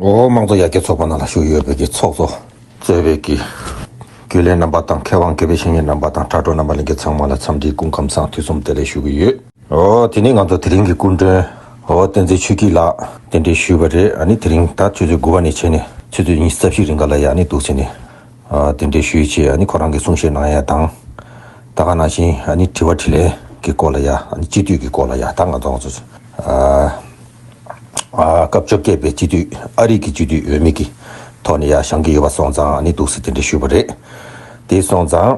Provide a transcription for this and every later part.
འོ་མང་གཙོ་ཡར་རྒྱས་ཚོགས་པ་ནང་ལ་ཞུགས་ཡོད་པའི་གི་ཚོགས་གཙོ། གཙོས་པའི་གི། རྒྱུས་ལེན་རྣམ་པ་དང་མཁས་དབང་གི་པའི་བཤེས་གཉེན་རྣམ་པ་དང་དྲ་གྲོགས་རྣམ་པ་གླིང་གི་ཚང་མ་ལ་འཚམས་འདྲིའི་སྐུ་ཁམས་སང་དུས་གསུམ་བདེ་ལེགས་ཞུ་གི་ཡོད། འོ་དེ་ནས་ང་ཚོ་དེ་རིང་གི་སྐུ་མགྲོན། འོ་བསྟན་འཛིན་ཆོས་སྐྱིད་ལགས་རྟེན་འབྲེལ་ཞུས་པ་རེད་ཨ་ནི་དེ་རིང་ད་ཆུ་ཚོད་དགུ་བ་ནས་བྱས་ནས་ཆུ་ཚོད་གཉིས་རྩ་བཞི་རིང་ག་ལ་ཡག་ནི་འདུག་བྱས་ནས། དེ་འདྲའི་ཤོད་ཅེས་ཁོ་རང་གིས་གསུང་བཤད་གནང་ཡ་དང། ད་ག་ནང་བཞིན་དྲི་བ་དྲི་ལན་གྱི་སྐོར་ལ་ཡ་སྤྱི་འཐུས་ཀྱི་སྐོར་ལ་ཡ་ད་ང་ཚོ་ཚོ། སྐབས་བཅོ་བརྒྱད་པའི་སྤྱི་འཐུས་ཨ་རིག་གི་སྤྱི་འཐུས་འོས་མི་གི་ཐོག་ནས་ཡ་བཞང་གི་ཡོད་པ་སོང་ཙང་འདུག་སེ་དེ་འདྲའི་ཤོད་པ་རེད་དེ་སོང་ཙང།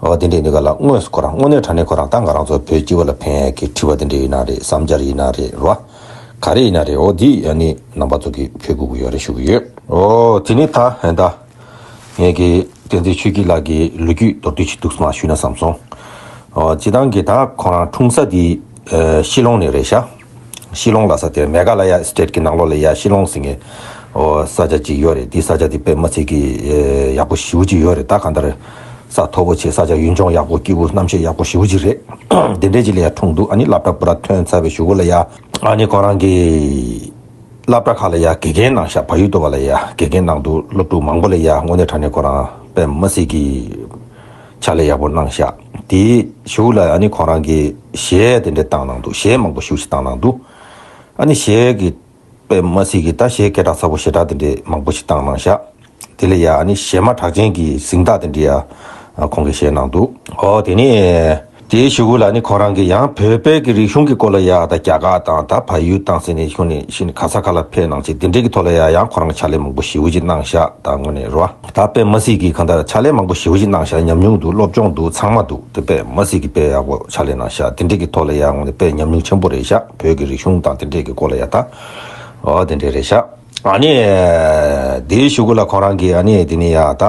བ་དེ་འདྲའི་འདི་ག་ལ་དངོས་སུ་ཁོ་རང་དངོས་གནས་དྲ་གནས་ཁོ་རང་ཏང་ག་རང་ཚོ་བོད་སྤྱི་བ་ལ་ཕན་གི་དྲི་བ་དེ་འདྲའི་ཡིན་ན་རེད་བསམ་འཆར་ཡིན་ན་རེད་རེད་བ། ག་རེ་ཡིན་ན་རེད་འོ་དེ་ཡང་ནི་ནང་པ་ཚོ་གི་ཕེ་སྒུག་གི་ཡོད་རེད་ཞུ་གི་ཡོད། འོ་དེ་ནི་ད་ཧན་ད། ངས་ཀྱི་བསྟན་འཛིན་ཆོས་སྐྱིད་ལགས་ཀྱི་ལོ་རྒྱུས་མདོར་བསྡུས་ཅིག་འདུག་སམ་ཞུས་ན་བསམ་སོང། འོ་སྤྱི་བཏང་གི་ད་ཁོ་རང་འཁྲུངས་ས་དེ་ཤི་ལོང་ནས་རེད་ཤག། ཤི་ལོང་ལ་ས་དེར་མེ་གྷ་ལ་ཡ State གི་ནང་ལོགས་ལ་ཡ་ཤི་ལོང་ཟེར་ངེས་ས་ཆ་གཅིག་ཡོད་རེད་དེའི་ས་ཆ་དེ་པད་མ་ཚིག་གི་ཡག་པོ་བཞི་བོ་གཅིག་ཡོད་རེད་ད་ག་ལྟར་རེད་ས་མཐོ་པོ་ཆེ་ས་ཆ་ཡུལ་ལྗོངས་ཡག་པོ་སྐྱིད་པོ་རྣམ་ཤེས་ཡག་པོ་བཞི་བོ་གཅིག་རེད་དེ་འདྲས་གཅིག་ལ་ཡ་འཁྲུངས་འདུག་ཨ་ནི་བླ་བྲ་པུ་ར་ཐོན་ཚར་བའི་ཞུ་གུ་ལ་ཡ། ཨ་ནི་ཁོང་རང་གི་བླ་བྲ་ཁ་ལ་ཡ་དགེ་རྒན་ནང་ཤག་བ་ཡུལ་སྟོད་བ་ལ་ཡ་དགེ་རྒན་ནང་འདུག་སློབ་ཕྲུག་མང་པོ་ལ་ཡ་དངོས་གནས་དྲ་གནས་ཁོང་རང་པད་མ་ཚིག་གི། ཕྱག་ལས་ཡག་པོ་གནང་ཤག་དེ་ཞུགས་ལ་ཡང་ནི་ཁོང་རང་གི་གཞས་དེ་འདྲ་བཏང་གནང་འདུག་གཞས་མང་པོ་ཞུགས་ཤིག་བཏང་གནང་འདུག་ཨ་ནི་གཞས་ཀྱི་པད་མ་སྲིད་ཀྱི་ད་གཞས་སྐད་གྲགས་ཚ་པོ་ཞེ་དྲག་དེ་འདྲའི་མང་པོ་ཞིག་བཏང་གནང་ཤག་དེ་ལས་ཡང་ནི་གཞས་མ་གྲགས་ཅན་གྱི་གཟིངས་རྟགས་དེ་འདྲའི་ཡང་ཁོང་གི་གཞས་གནང་འདུག་ཨོ་དེ་ནི། དེའི་ཞུ་སྐུལ་ལ་ནི་ཁོང་རང་གིས་ཡང་བོད་པའི་གི་རིག་གཞུང་གི་སྐོར་ལ་ཡ་ད་རྒྱ་གར་དང་ད་བལ་ཡུལ་དང་སི་ནི་ཤུ་ནི་ཤི་ནི་གྷ་ས་ཁ་ལ་ཕེ་གནང་ཆེད་དེ་འབྲེལ་གི་ཐོག་ལ་ཡ་ཡང་ཁོང་རང་ཕྱག་ལས་མང་པོ་ཞེ་བོ་ཅིག་གནང་བཞག་ད་དངོས་ནས་རོ་ད་པད་མ་སི་གིས་གང་ད་ཕྱག་ལས་མང་པོ་ཞེ་བོ་ཅིག་གནང་བཞག་ཉམས་མྱུང་འདུག་སློབ་སྦྱོང་འདུག་ཚང་མ་འདུག་དེ་པད་མ་སི་གིས་དཔེ་ཡག་པོ་ཕྱག་ལས་གནང་བཞག་དེ་འབྲེལ་གི་ཐོག་ལ་ཡ་དངོས་ནས་པད་ཉམས་མྱུང་ཆེན་པོ་རེད་བཞག་བོད་གི་རིག་གཞུང་དང་དེ་འབྲེལ་གི་སྐོར་ལ་ཡ་ད་འོ་དེ་འདྲས་རེད་བཞག་ཨ་ནི་དེའི་ཞུ་སྐུལ་ལ་ཁོང་རང་གིས་ཨ་ནི་དེ་ནི་ཡ་ད།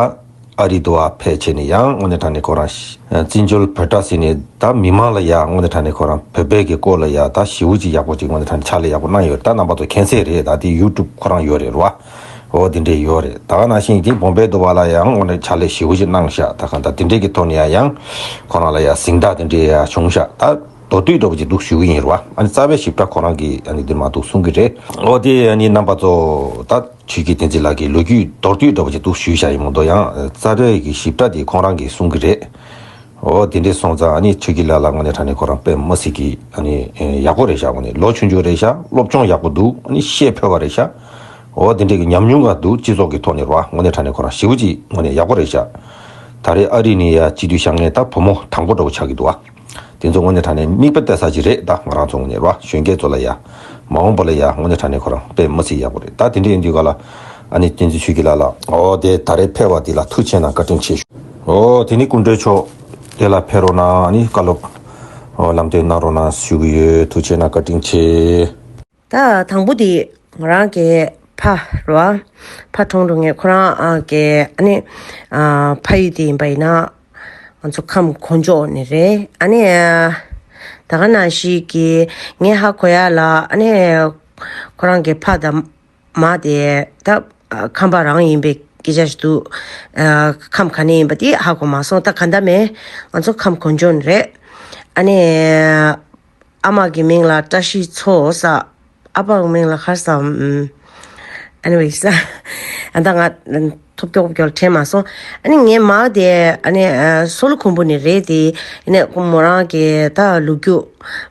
ཨ་རི་དུ་ཨ་ཕས་ཆེ་ནས་ཡང་དངོས་གནས་དྲ་ནས་ཁོ་རང་བཙན་བྱོལ་བོད་དྲ་ཟེར་ནས་ད་མི་མང་ལ་ཡང་དངོས་གནས་དྲ་ནས་ཁོ་རང་བོད་པའི་གི་སྐོར་ལ་ཡང་ད་ཞིའུ་ཅིག་ཡག་པོ་ཅིག་དངོས་གནས་དྲ་ནས་ཕྱག་ལས་ཡག་པོ་གནང་ཡོད་ད་རྣམ་པ་ཚོ་མཁྱེན་གསལ་རེད་ད་དེ་ཡུ་ཀྲུབ་ཁོ་རང་ཡོད་རེད་རོ་ཨོ་དེ་འདྲས་ཡོད་རེད་ད་ག་ནང་བཞིན་ཡིན་ཏེ་བོང་བེ་དུ་བ་ལ་ཡང་དངོས་གནས་ཕྱག་ལས་ཞིའུ་ཅིག་གནང་ཤག་ད་ག་ད་དེ་འདྲས་གི་ཐོག་ནས་ཡང་ཡང་ཁོ་རང་ལ་ཡང་གཟིངས་རྟགས་དེ་འདྲས་ཡང་བྱུང་ཤག་ད་མདོ་སྟོད་འདྲ་བོ་ཅིག་འདུག་ཞུ་གི་ཡིན་རོ་ཨ་ནི་རྩ་བའི་ཞིབ་ཕྲ་ཁོ་རང་གི་ཨ་ནི་འདིར་མ་འདུག་གསུང་གི་རེད་ཨོ་དེ་ཨ་ནི་རྣམ་པ་ཚོ་ད། ཆོས་སྐྱིད་བསྟན་འཛིན་ལགས་ཀྱི་ལོ་རྒྱུས་མདོར་བསྡུས་འདྲ་པོ་ཅིག་འདུག་ཞུས་བྱ་ཡི་མོ་མདོ་ཡང་རྩ་འགྲེལ་གྱི་ཞིབ་ཕྲ་དེ་ཁོང་རང་གིས་གསུང་གི་རེད། འོ་དེ་འདྲས་སོང་ཙང་ཨ་ནི་ཆོས་སྐྱིད་ལགས་ལ་ངོ་ནས་དྲ་ནས་ཁོ་རང་དཔེ་མ་སྲིད་ཀྱི་ཨ་ནི་ཡག་པོ་རེད་ཤག་འོ་ནི་ལོ་ཆུང་ཆུང་རེད་ཤག་སློབ་སྦྱོང་ཡག་པོ་འདུག་ཨ་ནི་ཤེས་ཕོད་པ་རེད་ཤག་འོ་དེ་འདྲས་ཀྱི་ཉམས་མྱོང་འགའ་འདུག་སྤྱི་ཚོགས་ཀྱི་ཐོག་ནས་རོགས་ཨ་ངོ་ནས་དྲ་ནས་ཁོ་རང་ཞི་བོ་ཅིག་ངོ་ནས་ཡག་པོ་རེད་ཤག་ད་རེས་ཨ་རི་ནས་ཡ་སྤྱི་འཐུས་ཤག་ངས་ད་བུ་མོ་དང་པོ་འདྲ་པོ་ཆགས་ཀྱི་འདུག་ཨ། དེ་ཚོ་ངོ་ནས་དྲག་ནས་མིག་དཔེར་བལྟ་ས་ཅིག་རེད་ད་ང་རང་ཚོ་ངོ་ནས་རོ་གཞོན་སྐྱེས་ཚོ་ལ་ཡ། མ་འོངས་པོ་ལ་ཡ་ངོ་ནས་དྲག་ནས་ཁོ་རང་དཔེ་མ་ཚིག་ཡག་པོ་རེད་ད་དེ་འདྲས་ཡོད་འདུག་ག་ལ། ཨ་ནི་བསྟན་འཛིན་ཆོས་སྐྱིད་ལགས་ལགས། འོ་དེ་ད་རེ་ཕེར་བ་དེ་ལ་ཐུགས་ཆེ་ན་བཀའ་དྲིན་ཆེ་ཞུ། འོ་དེ་ནི་སྐུ་མགྲོན་མཆོག་དེ་ལ་ཕེར་རོགས་གནང་ཨ་ནི་བཀའ་སློབ། ལམ་སྟོན་གནང་རོགས་གནང་ཞུ་གི་ཡོད་ཐུགས་ཆེ་ན་བཀའ་དྲིན་ཆེ། ད་དང་པོ་དེ་ང་རང་གི་ཕ་རུ་ཨ་ཕ་གྲོངས་འགྲོ་ངས་ཁོ་རང་གི་ཨ་ནེ་ཕ་ཡུལ་དེ་ཡིན་པ་ཡིན་ན་ང་ཚོ་ཁམས་གོ་འཇོག་ནི་རེད་ཨ་ནེ་ད་ག་ན་ཞིག་གི་ངས་ཧ་གོ་ཡ་ལ་ཨ་ནེ་ཁོ་རང་གི་ཕ་དང་མ་དེ་ད་ཁམས་པ་རང་ཡིན་པའི་སྐད་ཆ་ཞིག་འདུག་ཁམས་ག་ནས་ཡིན་པ་དེ་ཧ་གོ་མ་སོང་ད་ག་ད་མེད་ང་ཚོ་ཁམས་གོ་འཇོག་ནི་རེད་ཨ་ནེ། ཨ་མ་གི་མིང་ལ་བཀྲ་ཤིས་མཚོ་ས། ཨ་ཕ་གི་མིང་ལ་ཁར་ས Anyways ཨ་ད་ང་ཐོབ་སྐྱོ་སྐྱོ་ལ་དྲན་མ་སོང་ཨ་ནི་ངའི་མ་དེ་ཨ་ནི་སོ་ལོ་ཁུང་བུ་ནི་རེད་དེ་ཨ་ནི་མོ་རང་གི་ད་ལུ་རྒྱུ་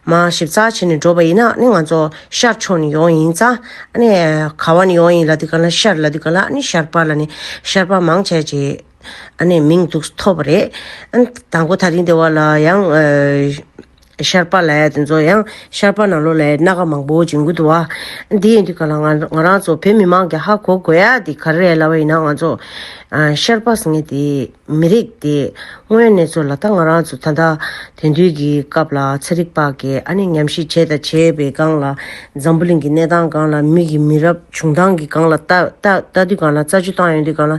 མ་ཞིབ་ཚགས་བྱེད་ནི་འགྲོ་བ་ཡིན་ན་ཨ་ནི་ང་ཚོ་ཤར་ཕྱོགས་ནི་ཡོང་ཡིན་ཙང་ཨ་ནི་ག་བ་ནི་ཡོང་ཡིན་ལ་དེ་ག་ལ་ཤར་ལ་དེ་ག་ལ་ཨ་ནི་ཤར་པར་ལ་ནི་ཤར་པར་མང་བྱས་ཀྱི་ཨ་ནི་མིང་དུག་ཐོབ་པ་རེད་ཨ་ནི་དང་པོ་ད་རིང་དེ་བ་ལ་ཡང། ཤར་པཱ་ལའི་དེ་ཚོ་ཡང་ཤར་པཱ་ན་ལོ་ལའི་སྣ་ཁ་མང་པོ་འབྱིན་དགོས་འདུག་བ། དེ་ཡིན་དུས་ག་ལ་ང་ང་རང་ཚོ་བོད་མི་མང་གི་ཧ་གོ་དགོས་ཡ་དེ་ག་རེ་ལ་བ་ཡིན་ན་ང་ཚོ། ཤར་པཱ་ཟེར་ངེས་དེ་མི་རིགས་དེ་དངོས་གནས་ཚོ་ལ་ད་ང་རང་ཚོ་ད་ལྟ་དེང་དུས་ཀྱི་སྐབས་ལ་ཚ་རིག་པ་གས་ཨ་ནི་ཉམས་ཞིབ་བྱས་དང་བྱས་པའི་སྒང་ལ་འཛམ་བུ་གླིང་གི་གནས་སྟངས་སྒང་ལ་མི་གི་མི་རབས་བྱུང་སྟངས་ཀྱི་སྒང་ལ་ལྟ་ལྟ་ལྟ་དུས་སྒང་ལ་རྩ་ཆུ་བཏང་ཡོང་དུས་སྒང་ལ།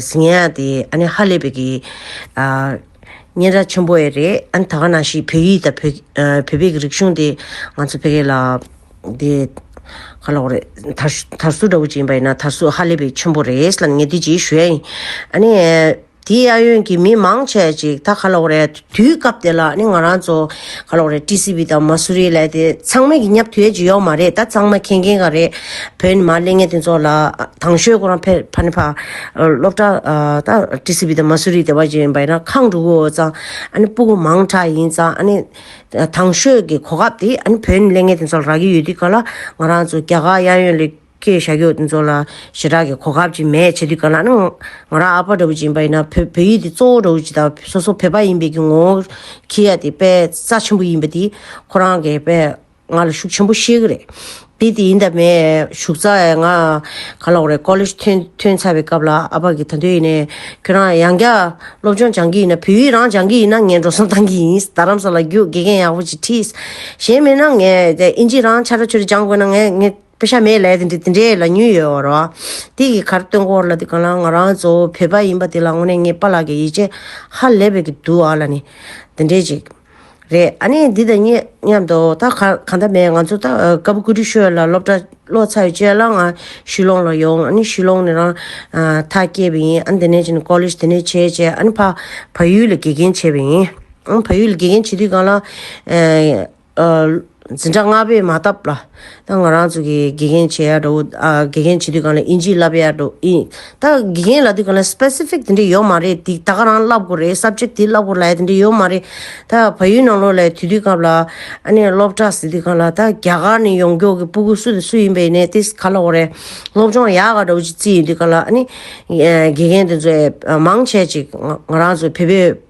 ཟིང་ཡ་དེ་ཨ་ནི་ཧ་ལས་པའི་གི་ཨ། སྙན་གྲགས་ཆེན་པོ་ཡི་རེད་ཨ་ནི་ད་ག་ནང་ཞིག་བོད་ཡིག་དང་བོད། བོད་པའི་གི་རིག་གཞུང་དེ་ང་ཚོ་ཕལ་གི་ལ། དེ། ག་ལོག་རེད་དར། དར་སུ་འདྲ་བོ་ཅིག་ཡིན་པ་ཡིན་ན་དར་སུ་ཧ་ལས་པའི་ཆེན་པོ་རེད་ལ་ངས་དེ་ཅིག་ཞུ་ཡ་ཡིན། ཨ་ནི། དེའི་ཨ་ཡོན་གི་མི་མང་ཆེ་ཅིག་ད་ག་ལོག་རེད། དུས་སྐབས་དེ་ལ་ནི་ང་རང་ཚོ་ག་ལོག་རེད TCB དང་མ་སུ་རི་ལས་དེ་ཚང་མས་ཀྱི་ཉབ་དུས་ཡས་ཀྱི་ཡོག་མ་རེད་ད་ཚང་མ་མཁྱེན་མཁྱེན་ག་རེད་བོད་ནི་མ་གླེང་ངན་དེ་ཚོ་ལ་དང་ཤོས་ཁོ་རང་ཕེ་ཕ་ནི་ཕ་སློབ་གྲ་ད TCB དང་མ་སུ་རི་དེ་བ་ཅིག་བས་ན་ཁང་དྲུག་གོ་ཙང་ཨ་ནི་སྤུ་གོ་མང་གྲ་ཡིན་ཙང་ཨ་ནི་དང་ཤོས་ཀྱི་གོ་སྐབས་དེ་ཨ་ནི་བོད་ནི་གླེང་ངན་དེ་ཚོ་ལ་རག་གི་ཡོད་དུས་ག་ལ་ང་རང་ཚོ་རྒྱ་གར་གཡག་ཡོན་ལི་ཁྱོད་ཤ་ཁྱོད་ཚོ་ལ་ཞེ་དྲག་གི་གོ་སྐབས་ཅིག་མེད་བྱས་དུས་ག་ལ་ན། ང་རང་ཨ་ཕ་འདྲ་བོ་ཅིག་ཡིན་པ་ཡིན་ན་བོད་ཡིག་འདི་གཙོ་བོ་འདྲ་བོ་ཅིག་དང་སོ་སོ་བོད་པ་ཡིན་པའི་གི་ངོ་བོ་ཁྱི་ཡ་དེ་དཔེ་རྩ་ཆེན་པོ་ཡིན་པ་དེ་ཁོ་རང་གི་དཔེ་ང་ལ་ཤུགས་ཆེན་པོ་བཤད་གི་རེད། དེ་དེ་ཡིན་ད་མས་ཞུགས་ཚ་ཡ་ང་ག་ལོག་རེད་ཀོ་ལེ་ཞི་ཐོན་ཚར་བའི་སྐབས་ལ་ཨ་ཕ་གི་ད་དོན་ཡིན་ནས་ཁྱོད་རང་ཡང་བསྐྱར་སློབ་སྦྱོང་སྦྱང་གི་ཡིན་ན་བོད་ཡིག་རང་སྦྱང་གི་ཡིན་ན་ངས་འགྲོ་སོང་བཏང་གི་ཡིན་རྡ་རམ་ས་ལ་རྒྱུགས་དགེ་རྒན་ཡག་པོ་ཅིག་ཁྲིད། གཞན་མེད་ན་ངས་དབྱིན་ཇི་རང་ཆ་ར་ཆོད་རེ་སྦྱང་དགོས་ན་ངས་ངས། བོད་ཤ་མེད་ལས་དེ་འདྲའི་ལ་ཉུལ་ཡོད་བ་རོ། དེ་གི་གར་སྟོན་སྐོར་ལ་དེ་གང་ལ་ང་རང་གཙོ་བོ་བོད་པ་ཡིན་པ་དེ་ལ་དངོས་གནས་ངའི་པ་ལགས་ཀྱི་ཡིད་ཆེས་ཧ་ལས་པའི་གི་འདུག་ཨ་ལ་ནི། དེ་འདྲའི་ཅིག། རེད་ཨ་ནི་འདི་དང་གཉིས་མཉམ་དུ་ད་ག་གང་ད་མེད་ང་ཚོ་ད་སྐབས་བཀུར་སྟི་ཤོད་ལ་སློབ་གྲ་བློ་ཚ་ཡོད་བྱས་ལ་ང་ཤུལ་ལོང་ལ་ཡོང་ཨ་ནི་ཤུལ་ལོང་ནས་རང་ཐག་སྐྱེས་པ་ཡིན་ཨ་ནི་དེ་ནས་ཅིན་ཀོ་ལེ་ཞི་དེ་ནས་བྱས་བྱས་ཨ་ནི་ཕ་ཡུལ་ལ་དགེ་རྒན་བྱས་པ་ཡིན། ཕ་ཡུལ་ལ་དགེ་རྒན་བྱས་དུས་གང་ལ། འཛིན་གྲྭ་ལྔ་པས་མ་བཏབ་ལ། ད་ང་རང་ཚོ་གི་དགེ་རྒན་བྱེད་ཡག་འགྲོ། དགེ་རྒན་བྱེད་དུས་གང་ལ་དབྱིན་ཇི་བསླབ་ཡག་འགྲོ། ད་དགེ་རྒན་ལ་དུས་གང་ལ specific དེ་འདྲ་ཡོད་མ་རེད་དེ་ད་ག་རང་བསླབ་དགོས་རེད subject དེ་བསླབ་དགོས་ལ་དེ་འདྲ་ཡོད་མ་རེད། ད་བལ་ཡུལ་ནང་ལོགས་ལ་དུས་དུས་སྐབས་ལ་ཨ་ནེ་སློབ་གྲྭ་ཟེར་དུས་གང་ལ་ད་རྒྱ་གར་ནས་ཡོང་མགྱོགས་ཀྱི་སྤུ་གུ་སུ་དང་སུ་ཡིན་པའི་ནས་དེ་ག་ལ་འོ་རེད། སློབ་སྦྱོང་ཡག་ག་འགྲོ་ཅིག་རྩིས་ཡོད་དུས་གང་ལ་ཨ་ནེ། དགེ་རྒན་དེ་ཚོས་མང་ཆེ་ཅིག་ང་རང་ཚོ་བོད་པའི།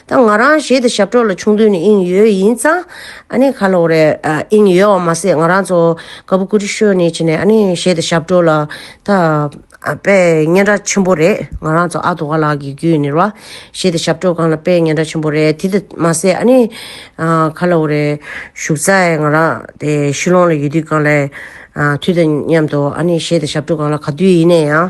ད་ང་རང་གཞས་དེ་ཞབས་གྲོགས་ལ་ཆུང་དུས་ནས་ཨིན་ཡོད་ཡིན་ཙང་ཨ་ནེ་ཁ་ལོ་རེད་ཨིན་ཡོད་བ་མ་ཟད་ང་རང་ཚོ་ཀ་བུ་ཀུ་ཅི་ཤོད་ནས་ཕྱིན་ནས་ཨ་ནེ་གཞས་དེ་ཞབས་གྲོགས་ལ་ད་དཔེ་སྙན་གྲགས་ཆེན་པོ་རེད་ང་རང་ཚོ་ཨ་དོ་ག་ལགས་ཀྱི་རྒྱུད་ནས་ར་གཞས་དེ་ཞབས་གྲོགས་གང་ལ་དཔེ་སྙན་གྲགས་ཆེན་པོ་རེད་དེ་དེ་མ་ཟད་ཨ་ནེ་ཁ་ལོ་རེད་བཞུགས་ཚར་ང་རང་དེ་ཤི་ལོང་ལ་ཡོད་དུས་གང་ལས་དུས་དང་མཉམ་དུ་ཨ་ནེ་གཞས་དེ་ཞབས་གྲོགས་གང་ལ་ག་དུས་ཡིན་ནས་ཡང།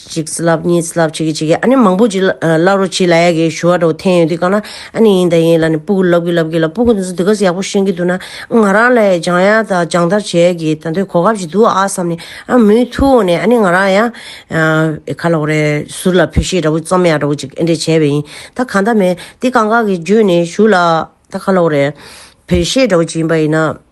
གཅིག་བསྲེ་ལབ་གཉིས་བསྲེ་ལབ་བྱེད་གི་བྱེད་གི་ཨ་ནི་མང་པོ་ཅིག་བསླབ་རོགས་བྱེད་ལ་ཡ་གི་ཞུ་བ་འདྲ་བོ་འཐེན་ཡོད་དུས་གང་ན་ཨ་ནི་ཡིན་དང་ཡིན་ལ་ནི་སྤུ་གུ་ལབ་གི་ལབ་གི་ལ་སྤུ་གུ་འདི་ཚོ་འདི་ག་ས་ཡག་པོ་ཤེས་ཀྱི་འདུག་ན་ང་རང་ལ་ཡ་སྦྱང་ཡ་དང་སྦྱང་བརྡར་བྱེད་ཡ་གི་ད་དུས་གོ་སྐབས་ཅིག་འདུག་ཨ་བསམ་ནས་ཨ་མུའི་ཐུགས་འོག་ནས་ཨ་ནི་ང་རང་ཡ་ག་ལ་འོ་རེད་ཟུར་ལ་བོད་གཞས་འདྲ་བོ་རྩོམ་ཡ་འདྲ་བོ་ཅིག་ཨེ་འདྲས་བྱས་པས་ཡིན་ད་གང་ད་མེད་འདི་གང་ག་གི་བརྒྱུད་ནས་ཞུ་ལ་ད་ག་ལ་འོ་རེད་བོད་གཞས་འདྲ་བོ་ཅིག་ཡིན་པ་ཡིན་ན།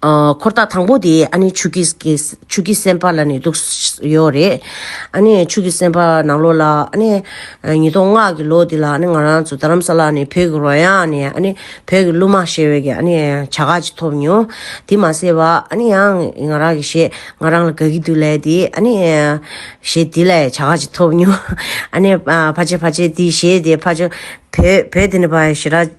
འཁོར་ཐག་དང་པོ་དེ་ཨ་ནེ་ཆུ་སྐྱིད་ཀྱི་སེམས་པ་ལ་ནས་འདུག་ཡོད་རེད། ཨ་ནེ་ཆུ་སྐྱིད་སེམས་པ་ནང་ལོགས་ལ་ཨ་ནེ། ཉིས་སྟོང་ལྔ་གི་ལོ་དེ་ལ་ཨ་ནེ་ང་རང་ཚོ་རྡ་རམ་ས་ལ་ནས་བོད་ཀྱི་རོལ་དབྱངས་ནས་ཨ་ནེ་བོད་ཀྱི་གླུ་མ་ཞེས་བའི་ཨ་ནེ་བྱ་དགའ་ཅིག་ཐོབ་མྱོང། དེ་མ་ཟད་པ་ཨ་ནེ་ཡང་ང་རང་གི་ཞེས་ང་རང་ལ་དགའ་གི་འདུག་ལས་དེ་ཨ་ནེ། ཞེས་དེ་ལ་བྱ་དགའ་ཅིག་ཐོབ་མྱོང། ཨ་ནེ། ཕ་ཆེ་ཕ་ཆེ་དེ་ཞེས་དེ་ཕ་ཆེ། བོད་དེ་ནི་ཕ་ཞེས་ར།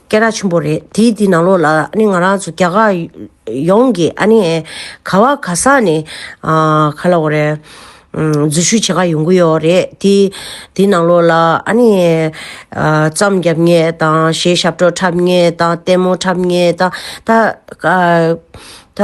སྐད་གྲགས་ཆེན་པོ་རེད་དེ་དེ་ནང་ལོགས་ལ་ཨ་ནི་ང་རང་ཚོ་རྒྱ་གར་ཡོངས་ཀྱི་ཨ་ནི་ག་བ་ག་ས་ནས་ག་ལ་འོ་རེད་འཛུལ་ཞུགས་བྱེད་ཁ་ཡོང་གི་ཡོད་རེད་དེ་དེ་ནང་ལོགས་ལ་ཨ་ནི་རྩམ་རྒྱབ་ངེས་དང་ཞེས་ཞབས་བྲོ་འཁྲབ་ངེས་དང་ལྟད་མོ་འཁྲབ་ངེས་དང་ད་ད།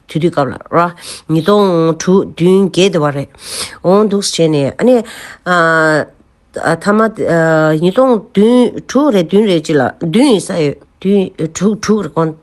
དུས་དུས་སྐབས་ལ་ར། ཉིས་སྟོང་དྲུག་བདུན་བརྒྱད་དེ་བ་རེད། འོང་འདུག་བྱས་ནས་ཨ་ནི། ཐ་མ། ཉིས་སྟོང་བདུན་དྲུག་རེད་བདུན་རེད་ཅིག་ལ་བདུན་ཡིན་ས་ཡོད། བདུན་དྲུག་དྲུག་རེད་ཀོང།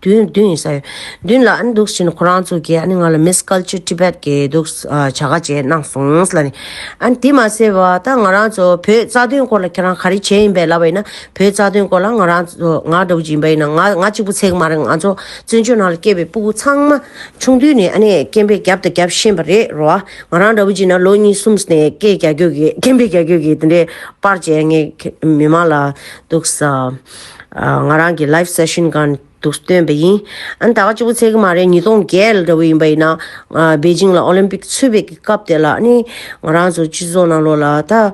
བདུན་བདུན་ཡིན་ས་ཡོད། བདུན་ལ་ཨ་ནི་འདུག་བྱས་ནས་ཁོ་རང་ཚོ་གིས་ཨ་ནི་ང་ལ་མིས་ཀལ་ཆེ Tibet གི་འདུག་བྱ་དགའ་བཅས་གནང་སོང་ལ་ནི། ཨ་ནི་དེ་མ་ཟད་པ་ད་ང་རང་ཚོ་བོད་རྩ་དོན་སྐོར་ལ་ཁྱེད་རང་ག་རེ་བྱས་ཡིན་པས་ལབ་པ་ཡིན་ན་བོད་རྩ་དོན་སྐོར་ལ་ང་རང་ཚོ་ང་སྒྲོག་བྱེད་ཡིན་པ་ཡིན་ན་ང་ང་གཅིག་པུ་ཚེགས་མ་རེད་ང་ཚོ་བཙན་བྱོལ་ནང་ལ་སྐྱེས་པའི་སྤུ་གུ་ཚང་མ་ཆུང་དུས་ནས་ཨ་ནེས་སྐྱེས་འཕེལ་བརྒྱབ་དང་བརྒྱབ་ཤེས་པ་རེད་རོ། ང་རང་འདྲ་བོ་གཅིག་ན་ལོ་གཉིས་གསུམ་ནས་སྐྱེས་རྒྱ་ཁྱོད་ཀྱིས་སྐྱེས་འཕེལ་རྒྱ་ཁྱོད་ཀྱིས་དེ་འདྲའི་པར་བྱས་ངའི་མི་མང་ལ་འདུག་ས། ང་རང་གི live session གང་འདུག་སྟོན་པ་ཡིན། ཨ་ནེ་ད་ག་ཅིག་པོ་ཚད་ཀྱི་མ་རེད་ཉིས་སྟོང་བརྒྱད་ལ་འདྲ་བོ་ཡིན་པ་ཡིན་ན། པེ་ཅིང་ལ Olympic ཚུད་པའི་སྐབས་དེ་ལ་ཨ་ནེ་ང་རང་ཚོ་སྤྱི་ཚོགས་ནང་ལོགས་ལ་ད།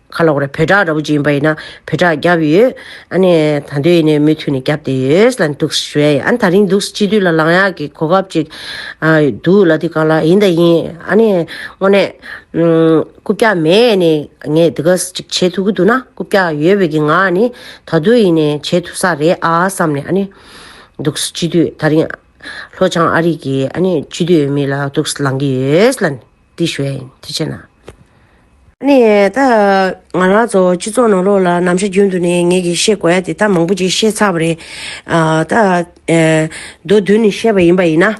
ཁ་ལོག་རེད་བོད་ཁྲག་ར་བུ་ཅིག་ཡིན་པ་ཡིན་ན་བོད་ཁྲག་བརྒྱབ་ཡོད། ཨ་ནི་ད་འདོད་ཡིན་ནའི་མུ་མཐུད་ནས་བརྒྱབ་དེ་ཡོད་ལ་འདུག་ཞོའི་ཨ་ནི་ད་རིང་འདུག་སྤྱི་འཐུས་ལ་ལངས་ཡག་གི་གོ་སྐབས་ཅིག་འདུག་ལ་དེ་ག་ལ་ཡིན་ད་ཡིན་ཨ་ནི་དངོས་གནས། རྐུབ་བཀྱག་མས་ནི་ངས་དེ་ག་ཅིག་བྱེད་ཐུབ་ཀྱི་འདུག་ན་རྐུབ་བཀྱག་ཡོད་པའི་གི་ང་ནི་ད་འདོད་ཡིན་ནའི་བྱེད་ཐུབ་ས་རེད་ཨ་བསམ་ནས་ཨ་ནི་འདུག་སྤྱི་འཐུས་ད་རིང་ལྷོ་བྱང་ཨ་རིག་གི་ཨ་ནི་སྤྱི་འཐུས་མི་ལ་འདུག་ལངས་ཀྱི་ཡོད་ལ། འདི་ཞོའི་ཐེ་ཆེ་ན། ནས་ད། ང་རང་ཚོ་སྤྱི་ཚོགས་ནང་ལོགས་ལ་ནམ་ཞར་རྒྱུན་དུ་ནས་ངེད་ཀྱིས་བཤད་དགོས་ཡ་དེ་ད་མང་པོ་ཅིག་བཤད་ཚར་བ་རེད། ད། མདོ་བདུན་ནས་བཤད་པ་ཡིན་པ་ཡིན་ན།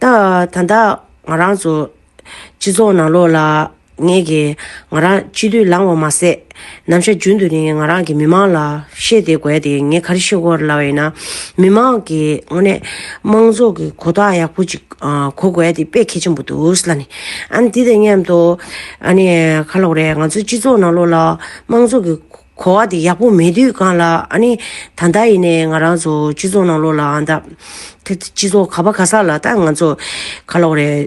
ད་ད་ལྟ་ང་རང་ཚོ། སྤྱི་ཚོགས་ནང་ལོགས་ལ་ངེད་ཀྱིས་ང་རང་སྤྱི་འཐུས་ལངས་བ་མ་ཟད། ནམ་ཞར་རྒྱུན་དུ་ནི་ང་རང་གིས་མི་མང་ལ་བཤད་དེ་བསྒོས་དེ་ངས་ག་རེ་ཤེས་གོ་ལ་བ་ཡིན་ན། མི་མང་གིས་དངོས་གནས་མང་ཚོགས་ཀྱི་གོ་རྟགས་ཡག་པོ་ཅིག་གོ་དགོས་དེ་དཔེ་གལ་ཆེན་པོ་འདུག་ལ་ནི། ཨ་ནི་དེ་དང་མཉམ་དུ། ཨ་ནི་ཁ་ལོག་རེད་ང་ཚོའི་སྤྱི་ཚོགས་ནང་ལོགས་ལ་མང་ཚོགས་ཀྱི་གོ་བ་དེ་ཡག་པོ་མེད་དུས་གང་ལ་ཨ་ནི་ད་ལྟ་ཡིན་ནའི་ང་རང་ཚོ་སྤྱི་ཚོགས་ནང་ལོགས་ལ་ཨ་ད། སྤྱི་ཚོགས་ག་པ་ག་ས་ལ་ད་ང་ཚོ་ཁ་ལོག་རེད།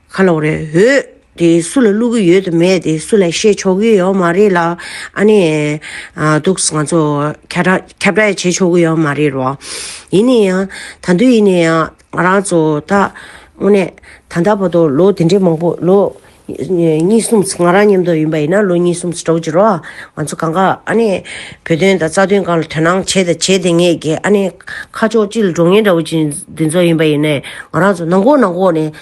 ཁ་ལོག་རེད་འོད་དེ་སུ་ལ་བླུག་གི་ཡོད་དུ་མེད་དེ་སུ་ལ་བཤད་ཆོག་གི་ཡོད་མ་རེད་ལ་ཨ་ནི་འདུག་ང་ཚོ་ཁྱབ་བསྒྲགས་ཡ་བྱེད་ཆོག་གི་ཡོད་མ་རེད་རོ། ཡིན་ནའི་ཡང་ད་དུས་ཡིན་ནའི་ཡང་ང་རང་ཚོ་ད་དངོས་གནས་ད་ལྟ་བར་དུ་ལོ་དེ་འདྲའི་མང་པོ་ལོ་གཉིས་གསུམ་ང་རང་ཉམས་རྟོགས་ཡིན་པ་ཡིན་ན་ལོ་གཉིས་གསུམ་ཟེར་གྲོགས་ཀྱི་རོ་ང་ཚོ་གང་གཱ་ཨ་ནི་བོད་དོན་དང་རྩ་དོན་གང་ལ་དོན་སྣང་བྱས་དང་བྱེད་དེ་ངས་ཀྱི་ཨ་ནི་ཁ་ཕྱོགས་གཅིག་ལ་འགྲོ་ངེས་འདྲ་བོ་ཅིག་འདི་ཚོ་ཡིན་པ་ཡིན་ནའི་ང་རང་ཚོ་ནང་ཁོག་ནང་ཁོག་ནས་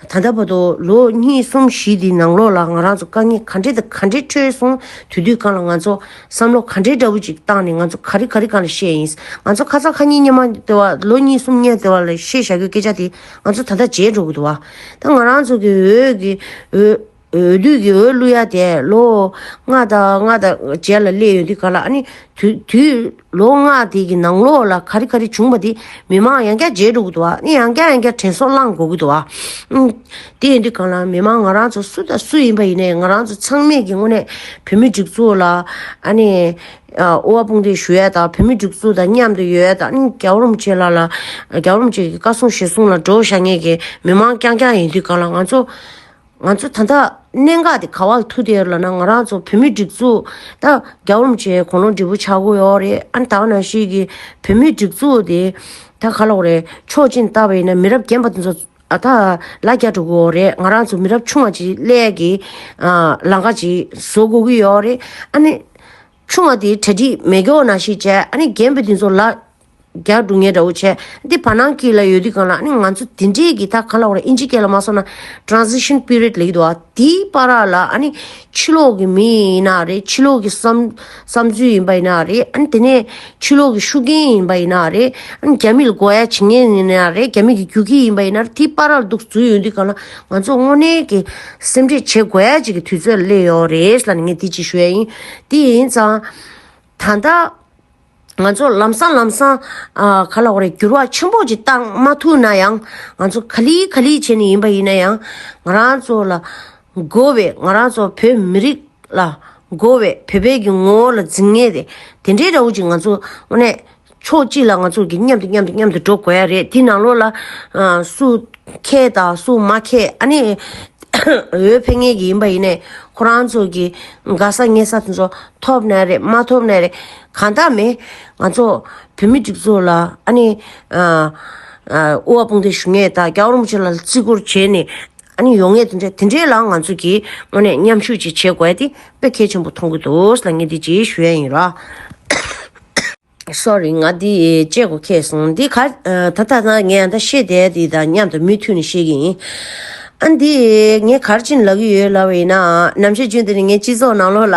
ད་ལྟ་བར་དུ་ལོ་གཉིས་གསུམ་བཞི་འདིའི་ནང་ལོགས་ལ་ང་རང་ཚོ་དཀའ་ངལ་ག་འདྲེ་དང་ག་འདྲེ་ཁྲོད་སོང་དུས་དུས་གང་ལ་ང་ཚོ་བསམ་བློ་ག་འདྲེ་འདྲ་བོ་ཅིག་བཏང་ནས་ང་ཚོ་ག་རེ་ག་རེ་གང་ལ་བཤད་ཡིན་ང་ཚོ་ཁ་ཚ་ཁ་གཉིས་གཉིས་མ་དེ་བ་ལོ་གཉིས་གསུམ་གཉིས་དེ་བ་ལ་བཤད་བཞག་གི་སྐད་ཆ་དེ་ང་ཚོ་ད་ལྟ་བརྗེད་འགྲོ་གི་འདུག་བ་ད་ང་རང་ཚོ་གི་འོད་ཀྱི་འོད། འོས་བསྡུ་གི་འོས་བླུ་ཡ་དེ་ལོ་ལྔ་དང་ལྔ་དང་བརྒྱད་ལ་སླེ་ཡོད་འདི་ག་ལ་ཨ་ནི་དུས་ལོ་ལྔ་དེ་གི་ནང་ལོགས་ལ་ག་རི་ག་རི་བྱུང་པ་དེ་མི་མང་ཡང་སྐྱ་འཇལ་འགྲོ་གི་འདུག་ཨ་ནི་ཡང་སྐྱ་ཡང་སྐྱ་དྲན་སོ་བླངས་དགོས་གི་འདུག་ཨ་དེ་འདི་ག་ལ་མི་མང་ང་རང་ཚོ་སུ་དང་སུ་ཡིན་པ་ཡིན་ནའི་ང་རང་ཚོ་ཚང་མས་གི་དངོས་གནས་བོད་མི་སྒྲིག་འཛུགས་ལ་ཨ་ནི་དབུ་བ་དཔུང་འདེགས་ཞུ་ཡ་དང་བོད་མི་སྒྲིག་འཛུགས་དང་མཉམ་དུ་ཡོད་ཡ་དང་ཨ་ནི་རྒྱ་རོམ་བཅས་ལ་ལ་རྒྱ་རོམ་བཅས་ཀྱི་བཀའ་གསུང་བཞེས་གསུང་ལ་འགྲོ་བཞག་ངེས་གི་མི་མང་སྐྱ་སྐྱ་ཡིན་འདི་ག་ལ་ང་ཚོ། ང་ཚོ་ད་ལྟ་གནད་འགག་དེ་ག་བར་ཐུག་ཏེ་ལ་ན་ང་རང་ཚོ་བོད་མི་སྒྲིག་འཛུགས་ད་རྒྱ་འོམ་བྱས་གོང་ལོ་འབྲས་བུ་ཆགས་གོ་ཡོག་རེད་ཨ་ནི་ད་ག་ནང་བཞིན་གྱི་བོད་མི་སྒྲིག་འཛུགས་དེ་ད་ག་ལ་འོག་རེད་ཕྱོགས་གཅིག་ནས་བལྟ་བ་ཡིན་ན་མི་རབས་རྒན་པ་དེ་ཚོ་ད་ལ་རྒྱ་འགྲོ་གི་ཡོག་རེད་ང་རང་ཚོ་མི་རབས་ཆུང་བ་ཅིག་སླད་ཀྱི་ལང་ཀ་ཅིག་བཟོ་དགོས་ཀྱི་ཡོག་རེད་ཨ་ནི་ཆུང་བ་དེ་གྲ་སྒྲིག་མེད་གྱོག་ན་ཤེས་བྱས་ཨ་ནི་རྒན་པོ་དེ་ཚོ་ལ་རྒྱག་སྒྲུག་ངན་འདྲ་བོ་བྱས། འདི་བར་སྣང་གི་ལ་ཡོད་དུས་གང་ལགས་ནི་ང་ཚོ་དེ་འདྲས་ཀྱི་ད་གང་ལགས་ར་ཨིན་ཇི་སྐད་ལ་མ་སོང་ན Transition Period ལ་ཡིད་དོ་ཨ་དེ་པ་ར་ལ་ཨ་ནི་ཕྱི་ལོག་གི་མི་ཡིན་ན་རེད་ཕྱི་ལོག་གི་བསམ་བསམ་ཚུལ་ཡིན་པ་ཡིན་ན་རེད་ཨ་ནི་དེ་ནས་ཕྱི་ལོག་གི་ཤུགས་རྐྱེན་ཡིན་པ་ཡིན་ན་རེད་ཨ་ནི་རྒྱ་མི་ལ་དགོ་ཡ་བྱེད་ངན་ཡིན་ན་རེད་རྒྱ་མི་གི་རྒྱུག་ཁྱི་ཡིན་པ་ཡིན་ན་རེད་དེ་པ་ར་ལ་སྡུག་རྫུན་ཡོད་དུས་གང་ལགས་ང་ཚོ་དངོས་གནས་ཀྱི་སེམས་ཁྲེད་བྱེད་དགོ་ཡ་བྱེད་ཀྱི་དུས་ཚོད་ལ་སླེབས་ཡོང་རེད་ལ་ནི་ངས་དེ་གཅིག་ཞུ་ཡ་ཡིན་དེ་ཡིན་ཙང་ད་ལྟ། ང་ཚོ་ལམ་སང་ལམ་སང་ག་ལ་རེད་འགྱུར་བ་ཆེན་པོ་ཅིག་བཏང་མ་ཐུབ་ན་ཡང་ང་ཚོ་ག་ལི་ག་ལི་བྱས་ནས་ཡིན་པ་ཡིན་ན་ཡང་ང་རང་ཚོ་ལ་དགོས་བའི་ང་རང་ཚོ་བོད་མི་རིགས་ལ་དགོས་བའི་བོད་པའི་གི་ངོ་བོ་ལ་འཛིན་ངེས་རེད་དེ་འདྲའི་རེ་བོ་ཅིག་ང་ཚོ་དངོས་གནས་ཕྱོགས་གཅིག་ལ་ང་ཚོ་གི་མཉམ་དུ་མཉམ་དུ་མཉམ་དུ་འགྲོ་དགོས་ཡ་རེད་དེ་ནང་ལོགས་ལ་སུ་མཁས་དང་སུ་མ་མཁས་ཨ་ནི་འོས་འཕེན་ངེས་ཀྱི་ཡིན་པ་ཡིན་ནས་ཁོ་རང་ཚོ་གི་དགའ་ས་ཉེ་ས་དེ་ཚོ་ཐོབ་ནའི་རེད་མ་ཐོབ་ནའི་རེད། གང་དག་མེད། ང་ཚོ་བོད་མི་སྒྲིག་འཛུགས་ལ་ཨ་ནི། དབུ་བ་དཔུང་སྡེ་ཞུ་ངེས་དང་རྒྱ་རོམ་བྱེད་ལ་བརྩི་བཀུར་བྱེད་ནི་ཨ་ནི་ཡོང་ངེས་དེ་འདྲ་དེ་འདྲའི་ལ་ང་ཚོ་གིས་དངོས་གནས་མཉམ་ཞུགས་ཅིག་བྱེད་དགོས་ཏེ་དཔེ་གལ་ཆེན་པོ་མཐོང་གི་འདུག་ལ་ངས་འདི་རྗེས་ཞུ་ཡ་ཡིན་རོགས། Sorry ང་འདི་བཅད་གོ་ཁེ་སོང་འདི་ག་ད་ལྟ་ན་ངས་ད་ཤེས་དེ་དེ་དང་མཉམ་དུ་མུས་མཐུད་ནས་བཤད་ཀྱི་ཡིན། ཨ་འདི་ངས་གར་ཕྱིན་ལབ་ཡོད་ལབ་ཡིན་ནའང་ནམ་ཞིག་རྒྱུན་དེ་ནས་ངས་སྤྱི་ཚོགས་ནང་ལོགས་ལ།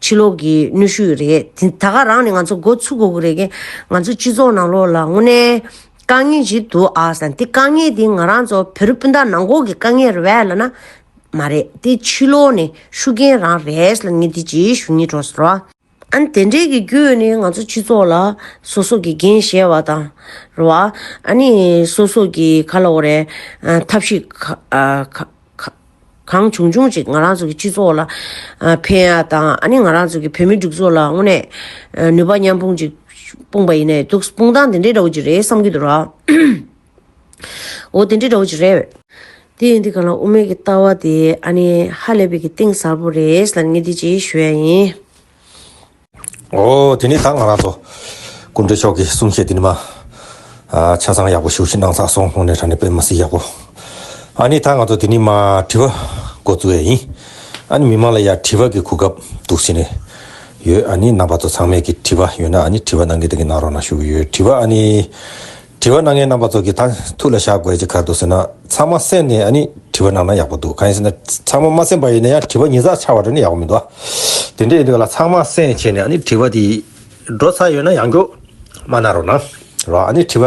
ཕྱི་ལོགས་ཀྱི་གནོད་ཤུགས་རེད། ད་ག་རང་ནས་ང་ཚོ་འགོ་ཚུགས་དགོས་ཀྱི་རེད། ང་ཚོ་སྤྱི་ཚོགས་ནང་ལོགས་ལ་དངོས་གནས་དཀའ་ངལ་ཞིག་འདུག་ཨ། དེ་དཀའ་ངལ་དེ་ང་རང་ཚོ་བོད་རི་སྤུན་ཟླ་ནང་འགོག་གི་དཀའ་ངལ་རེད་བས་ལ་ན། མ་རེད་དེ་ཕྱི་ལོགས་ནས་ཤུགས་རྐྱེན་རང་རེད་ལ་ངས་དེ་ཅི་ཞུ་ཉེ་གྲོགས་ཟེར་བ། ཨ་ནི་དེ་འདྲས་ཀྱི་བརྒྱུད་ནས་ང་ཚོ་སྤྱི་ཚོགས་ལ་སོ་སོ་གི་འགན་བཞེས་བ་དང། རེད་བ། ཨ་ནི་སོ་སོ་གི་ག་ལ་འོ་རེད། ཐབས་ཤེས་ག། གང་བྱུང་བྱུང་ཅིག་ང་རང་ཚོ་གི་སྤྱི་ཚོགས་ལ་ཕན་ཡ་དང་ཨ་ནི་ང་རང་ཚོ་གི་བོད་མི་སྒྲིག་འཛུགས་ལ་དངོས་གནས་ནུས་པ་མཉམ་སྤུངས་ཅིག་སྤུངས་པ་ཡིན་ནའི་འདུག་སྤུངས་སྟངས་དེ་འདྲའི་འདྲ་བོ་ཅིག་རེད་བསམ་གྱི་འདུག་ར། འོ་དེ་འདྲའི་འདྲ་བོ་ཅིག་རེད། དེ་ཡིན་དུས་གང་ལ་དབུ་མེད་ཀྱི་ལྟ་བ་དེ་ཨ་ནི་ཧ་ལས་པའི་གི་གཏིང་ཟབ་པོ་རེད་ལ་ངས་འདི་ཅིག་ཞུ་ཡ་ཡིན། ཨོ། དེ་ནས་ད་ང་རང་ཚོ། ཀུན་གྲོལ་མཆོག་གི་གསུང་བཤད་འདི་ནི་མ། ཆ་ཚང་ཡག་པོ་ཞུ་ཤིག་གནང་ཚར་སོང་སྔོན་ནས་དྲ་གནས་སྤེལ་མ་སྲིད་ཡག་པོ། ཨ་ནི་ད་ང་ཚོ་དེ་ནི་མ་དྲི་བ་འགོ་བཙུགས་ཡས་ཡིན། ཨ་ནི་མི་མང་ལ་ཡར་དྲི་བ་གི་གོ་སྐབས་འདུག་ཟེར་ནས་ཡོད་ཨ་ནི་རྣམ་པ་ཚོ་ཚང་མས་ཀྱི་དྲི་བ་ཡོད་ན་ཨ་ནི་དྲི་བ་གནང་གི་འདུག་གི་གནང་རོགས་གནང་ཞུ་གི་ཡོད་དྲི་བ་ཨ་ནི། དྲི་བ་གནང་མཁན་རྣམ་པ་ཚོ་གི་ད་ཐུགས་ལ་བཞག་དགོས་ཅི་ག་འདུག་ཟེར་ན་ཚང་མ་གསན་ནས་ཨ་ནི་དྲི་བ་གནང་ན་ཡག་པོ་འདུག་གང་ཡིན་ཟེར་ན་ཚང་མ་མ་གསན་པ་ཡིན་ན་ཡང་དྲི་བ་ཉིས་བརྩེགས་ཆགས་པ་དྲན་ན་ཡག་པོ་མི་འདུག་དེ་འདྲ་ཡིན་དུས་ལ་ཚང་མ་གསན་བྱས་ནས་ཨ་ནི་དྲི་བ་དེ་འགྲོ་ས་ཡོད་ན་ཡང་འགྲོ། མ་གནང་རོགས་གནང་རོགས་ཨ་ནི་དྲི་བ་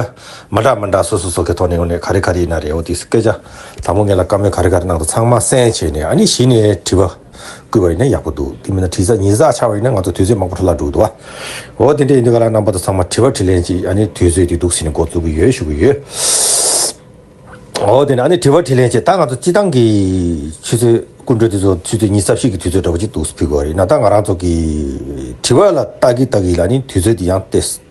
མ་འདྲ་མ་འདྲ་སོ་སོ་སོ་གའི་ཐོག་ནས་ངོ་ནས་ག་རེ་ག་རེ་ཡིན་ན་རེད་འོ་དེ་སྐད་ཆ་དང་པོ་ངེད་ལ་བཀའ་མོལ་ག་རེ་ག་རེ་གནང་འདུག་ཚང་མ་གསན་བྱས་ནས་ཨ་ནི་གཞི་ནས་དྲི་བ། བསྐུལ་བ་ཡིན་ན་ཡག་པོ་འདུག་དེ་མིན་ན་དྲི་ཟ་ཉི་ཟ་ཆགས་པ་ཡིན་ན་ང་ཚོ་དུས་ཚོད་མང་པོ་འཕྲོ་བརླག་འགྲོ་གི་འདུག་བ། འོ་དེ་འདྲ་ཡིན་དུས་ག་ལ་རྣམ་པ་དང་ཚང་མ་དྲི་བ་དྲི་ལན་གཅིག་ཨ་ནི་དུས་ཚོད་དེ་སྡུག་ཟིན་ནས་འགོ་བཙུགས་ཀྱི་ཡོད་ཞུ་གི་ཡོད། འོ་དེ་ནས་ཨ་ནི་དྲི་བ་དྲི་ལན་བྱས་ད་ང་ཚོ་སྤྱི་བཏང་གི་ཆུ་ཚོད་སྐུ་མགྲོན་དེ་ཚོ་ཆུ་ཚོད་ཉིས་ས་བཞི་གི་དུས་ཚོད་འདྲ་པོ་ཅིག་འདུག་ཕུལ་དགོས་བ་རེད་ན་ད་ང་རང་ཚོ་གི་དྲི་བ་ལ་བལྟ་གི་བལྟ་གི་ལ་ནི་དུས་ཚོད་དེ་ཡང་སྟེ།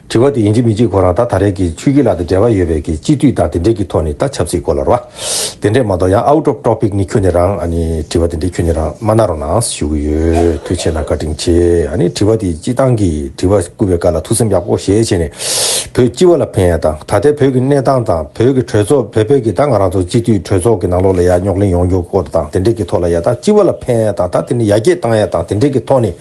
དྲི་བ་དེ་ཡིན་གཅིག་མིན་གཅིག་གོ་རང་ད་ད་རེས་ཀྱི་ཆུ་སྐྱིད་ལགས་དང་འབྲེལ་བ་ཡོད་པའི་གི་སྤྱི་འཐུས་དང་དེ་འབྲེལ་གྱི་ཐོག་ནས་ད་ཆབ་སྲིད་སྐོར་ལ་རོ། དེ་འདྲས་མ་གཏོགས་ཡང out of topic ནི་ཁྱོད་ནས་རང་ཨ་ནི་དྲི་བ་དེ་འདྲས་ཁྱོད་ནས་རང་མ་གནང་རོགས་གནང་ཞུ་གི་ཡོད་ཐུགས་ཆེ་ན་བཀའ་དྲིན་ཆེ་ཨ་ནི་དྲི་བ་དེ་སྤྱི་བཏང་གི་དྲི་བ་བསྐུར་བའི་བཀའ་ལ་ཐུགས་སེམས་ཡག་པོ་བཞེས་བྱས་ནས་བོད་སྤྱི་བ་ལ་ཕན་ཡ་དང་ད་ལྟའི་བོད་ཀྱི་གནས་སྟངས་དང་བོད་ཀྱི་གྲོས་ཚོགས་བོད་པའི་གི་ད་ང་རང་ཚོ་སྤྱི་འཐུས་གྲོས་ཚོགས་ཀྱི་ནང་ལོག་ལ་ཡ་རྙོག་གླེང་ཡོང་རྒྱུ་སྐོར་དང་དེ་འདྲས་གྱི་ཐོག་ལ་ཡ་ད་སྤྱི་བ་ལ་ཕན་ཡ་དང་ད་དེ་ནི་ཡ་རྒྱས་བཏང་ཡ་དང་དེ་འདྲས་གྱི་ཐོག་ནས།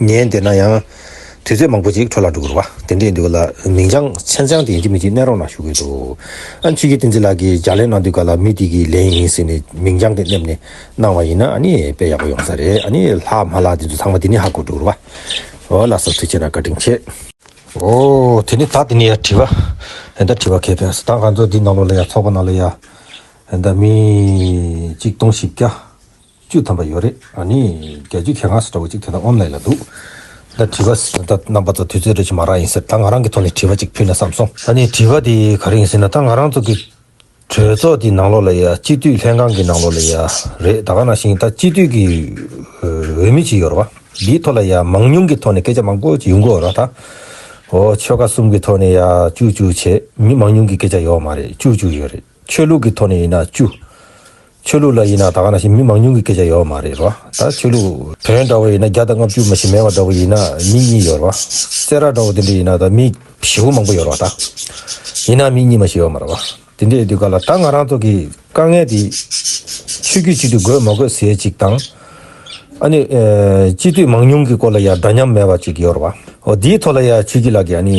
ཉན་བདེ་ན་ཡང། དུས་ཚོད་མང་པོ་ཅིག་འཕྲོ་བརླག་འགྲོ་དགོས་རེད་བ། དེ་འདྲས་འདུག་ལ། མིང་བྱང་མཆན་བྱང་དེ་ཡིན་གྱི་མི་གཅིག་གནས་རོགས་གནང་ཞུ་གི་འདུག་ཨ། ཆོས་ཀྱི་བསྟན་འཛིན་ལགས་ཀྱིས་ལྗགས་ལན་གནང་དུས་ག་ལ་མི་དེ་གི་ལན་ཡིན་ཟེར་ནས་མིང་བྱང་དེ་སླེབས་ནས་གནང་བ་ཡིན་ན་ཨ་ནི་དཔེ་ཡག་པོ་ཡོང་ས་རེད་ཨ་ནི་ལྷག་མ་ལགས་འདི་ཚོ་ཚང་མ་འདི་ནས་ཧ་གོ་འགྲོ་རུ་བ། འོ་ལ་ཟབ་ཚོད་ཆེ་ན་བཀའ་དྲིན་ཆེ། འོ། དེ་ནི་ད་དེ་ནས་ཡང་བྲིས་བ། ཨེ་འདྲ་བྲིས་བ་ཁེ་ཕན་སི་ད་ག་ཚོད་འདི་ནང་ལོག་ལ་ཡ་ཚོགས་པ་ནང་ལ་ཡ། ཨེ་འདྲ་མི། གཅིག་སྟོང་བཞི་བརྒྱ། བཅུ་ཐམ་པ་ཡོད་རེད་ཨ་ནི། རྒྱལ་རྒྱུད་ཁྱེད་གང་ཟེར་འདྲ་བོ་ཅིག་དེ་དག་ངོམ་ལེ་ལ་འདུག། ད་དྲི་བ་ཟེར་ད་རྣམ་པ་ཚོ་དུས་ཚོད་རེ་བྱུང་མ་རག་ཡིན་ཟེར་ད་ང་རང་གི་ཐོག་ནས་དྲི་བ་ཅིག་ཕུལ་ན་བསམ་སོང། ད་ནི་དྲི་བ་དེ་ག་རེ་ཡིན་ཟེར་ན་ད་ང་རང་ཚོ་གི་གྲོས་ཚོགས་དེའི་ནང་ལོགས་ལ་ཡ་སྤྱི་འཐུས་ལྷན་ཁང་གི་ནང་ལོགས་ལ་ཡ་རེད་ད་ག་ན་ཞིང་ད་སྤྱི་འཐུས་ཀྱི་འོས་མི་ཅིག་ཡོད་ར་བ་དེའི་ཐོག་ལ་ཡ་མང་ཉུང་གི་ཐོག་ནས་སྐད་ཆ་མང་པོ་ཅིག་ཡོང་གི་འོ་ར་ད་འོ་ཆོལ་ཁ་གསུམ་གི་ཐོག་ནས་ཡ་ཅུག་ཅུག་བྱས་མི་མང་ཉུང་གི་སྐད་ཆ་ཡོད་མ་རེད་ཅུག་ཅུག་ཡོད་རེད། ཆོས་ལུགས་ཀྱི་ཐོག་ནས་ཡིན་ན་བཅུ། ཆོས་ལུགས་ལ་ཡིན་ན་ད་ག་ན་ཞིག་མི་མང་ཉུང་གི་སྐད་ཆ་ཡོད་བ་མ་རེད་རོ། ད་ཆོས་ལུགས་བོན་འདྲ་བོ་ཡིན་ན་བརྒྱ་དང་ལྔ་བཅུ་མ་ཞིག་མེད་བ་འདྲ་བོ་ཡིན་ན་མི་གཉིས་ཡོད་རོ། བསེ་རག་འདྲ་བོ་དེ་འདྲ་ཡིན་ན་ད་མི་བཞི་བོ་མང་པོ་ཡོད་རོ་ད། ཡིན་ན་མི་གཉིས་མ་ཞིག་ཡོད་མ་རེད་རོ། དེ་འདྲའི་དུས་སྐབས་ལ་ད་ང་རང་ཚོ་གི་དཀའ་ངལ་དེ། ཆོས་བརྒྱུད་གཅིག་ཏུ་དགོས་མ་དགོས་ཟེར་ཅིག་དང། ཨ་ནི། སྤྱི་འཐུས་མང་ཉུང་གི་སྐོར་ལ་ཡང་འདྲ་མཉམ་མེད་བ་ཅིག་ཡོད་རོ། འོ་དེའི་ཐོག་ལ་ཡང་ཆོས་བརྒྱུད་ལགས་ཀྱི་ཨ་ནི།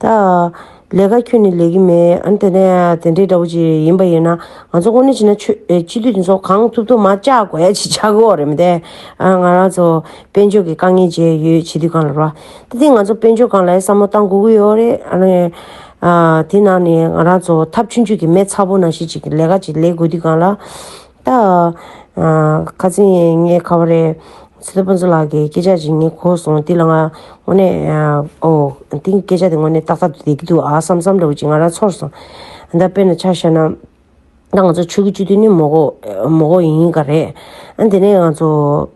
ད། ལས་ཀ་ཁྱོད་ནས་ལས་ཀྱི་མེད། ཨ་དེ་ནས་དེ་འདྲའི་འདྲ་བོ་ཅིག་ཡིན་པ་ཡིན་ན། ང་ཚོ་དངོས་གནས་བྱས་ན་ཆོས་སྤྱི་འཐུས་འདི་ཚོ་གང་ཐུབ་ཐུབ་མ་བཅག་དགོས་ཡ་ཅིག་ཆགས་ཀྱི་འོག་རེད་མ་དེ། ང་རང་ཚོ་དཔལ་འབྱོར་གྱི་དཀའ་ངལ་བྱས་ཡོད་བྱེད་དུས་གང་ལ་རོགས། དེ་དེ་ང་ཚོ་དཔལ་འབྱོར་གང་ལ་ཡང་བསམ་བློ་གཏང་དགོས་ཀྱི་ཡོད་རེད། ཨ་ནི། དེ་ནང་ནས་ང་རང་ཚོ་ཐབས་ཆུང་ཆུང་གིས་མེད་ཚ་པོ་ནང་བཞིན་ཅིག་ལས་ཀ་ཅིག་ལས་དགོས་དུས་གང་ལ། ད། ཁ་ཚིག་ངའི་ཁ་བ་རེད། ཚེ་རྡོ་དཔོན་ཚུལ་ལགས་ཀྱིས་སྐད་ཆ་ཞིག་ངས་གོ་སོང་དེ་ལ་ང། དངོས་གནས། ཨོ། དེ་ངས་སྐད་ཆ་དེ་དངོས་གནས་ཏག་ཏག་ཏུ་བསྡད་ཀྱི་འདུག་ཨ་བསམ་བསམ་འདྲ་བོ་ཅིག་ང་རང་ཚོར་སོང། ད་དཔེར་ན་ཆ་བཤད་ན། ད་ང་ཚོ་ཆོས་ཀྱི་སྤྱི་འཐུས་ནི་མོ་གོ། མོ་གོ་ཡིན་ག་རེད། ཨ་དེ་ནས་ང་ཚོ།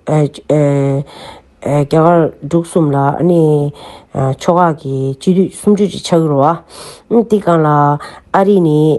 རྒྱ་གར་འབྲུག་གསུམ་ལ་ཨ་ནི། ཕྱོགས་ཁག་གི་སྤྱི་འཐུས་སུམ་ཅུ་ཅིག་ཆགས་ཀྱི་རུ་ཨ། དེ་གང་ལ། ཨ་རི་ནི།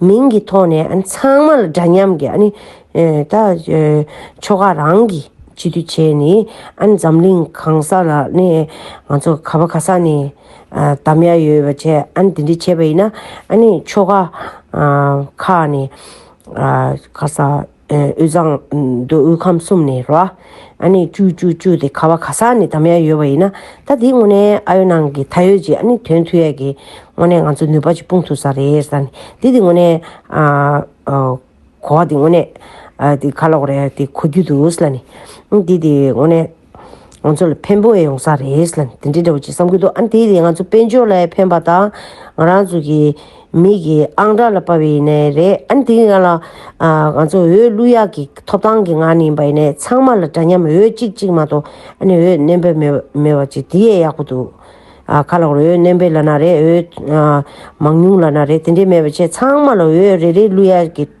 མིང་གི་ཐོག་ནས་ཚང་མ་ལ་འདྲ་མཉམ་གྱི་ད་ཆོ་ག་རང་གི་གཅིག་སྡུད་བྱས་ནས་འཛམ་གླིང་གང་ས་ལ་ནས་ང་ཚོ་ག་བ་ག་ས་ནས་དམ་ཡ་ཡོད་པ་བྱས་དེ་འདྲ་བྱས་པ་ཡིན་ན་ཆོ་ག་ཁག་ནས་ག་ས། དབུས་གཙང། མདོ་དབུས་ཁམས་གསུམ་ནས་རོ། ཨ་ནི་ཅུ་ཅུ་ཅུ་དེ་ཁ་བ་ཁ་སང་ནས་དམ་ཡ་ཡོད་པ་ཡིན་ན་ད་དེའི་སྔོན་ནས་ཨ་ཡོད་ནང་གི་ད་ཡོད་ཅིག་ཨ་ནི་དོན་མཐུ་ཡས་ཀྱི་སྔོན་ནས་ང་ཚོ་ནུས་པ་ཅིག་སྤུངས་ཐུབ་ས་རེད་ས་ནི་དེ་དེ་སྔོན་ནས་གོ་བ་དེ་སྔོན་ནས་དེ་ཁ་ལོག་རེད་དེ་གོ་རྒྱུ་འདུག་ས་ལ་ནི་དེ་དེ་སྔོན་ནས། ང་ཚོ་ལ་ཕན་པོ་ཡོང་ས་རེད་ལ་དེ་འདྲའི་འདྲ་བོ་ཅིག་བསམ་གྱི་འདུག་ཨ་དེ་ནི་ང་ཚོ་དཔལ་འབྱོར་ལ་ཕན་པ་དང་ང་རང་ཚོ་གི་མིག་གི་ཨང་གྲངས་ལ་དཔའ་བའི་ཡིན་ནའི་རེད་ཨ་དེ་ཡིན་ལ་ང་ཚོ་འོས་བླུག་ཡག་གི་ཐོབ་ཐང་གི་ངང་ནས་ཡིན་པ་ཡིན་ནའི་ཚང་མ་ལ་འདྲ་མཉམ་འོས་གཅིག་གཅིག་མ་གཏོགས་ཨ་ནི་འོས་གནས་འབེལ་མེད་པ་ཅིག་དེ་ཡས་ཡག་པོ་འདུག་ཨ་ཁ་ལག་འོས་གནས་འབེལ་ལ་ན་རེ་འོས་མང་ཉུང་ལ་ན་རེ་དེ་འདྲའི་མེད་པ་ཆད་ཚང་མ་ལ་འོས་རེ་རེ་བླུག་ཡག་གི།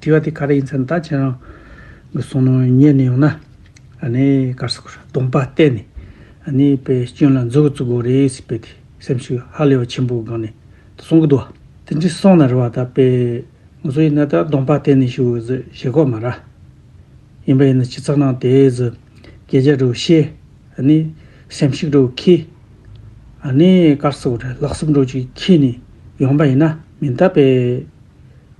དྲི་བ་དེ་ག་རེ་ཡིན་ཟེར་ན་ད་ཁྱེད་རང་གི་གསུང་ནང་ཉན་ནས་ཡོང་ན། གར་སོགས་སྡོམ་པ་བརྟེན་ནས་དཔེ་སྐྱོན་ལ་འཛུགས་བརྩི་དགོས་རེད་ཟེར་པའི་སེམས་ཤུགས་ཧ་ལས་པ་ཆེན་པོའི་སྒང་ནས་གསུང་གི་འདུག་བ། དེ་འདྲའི་གསུང་ན་རེ་བ་ད་དཔེ་ངོ་སོ་ཡིན་ན་ད་སྡོམ་པ་བརྟེན་ནས་ཞུ་ཟེར་ཞེ་ཁོག་མ་ར། ཡིན་པ་ཡིན་ན་སྤྱི་ཚགས་ནང་དེ་ཟེར་གས་རྒྱ་དྲུག་ཤེས། སེམས་ཤུགས་དྲུག་ཁེལ། གར་སོགས་ལག་སེམས་དྲུག་ཅིག་ཁེལ་ནས་ཡོང་པ་ཡིན་ན་མིན་ད་དཔེ།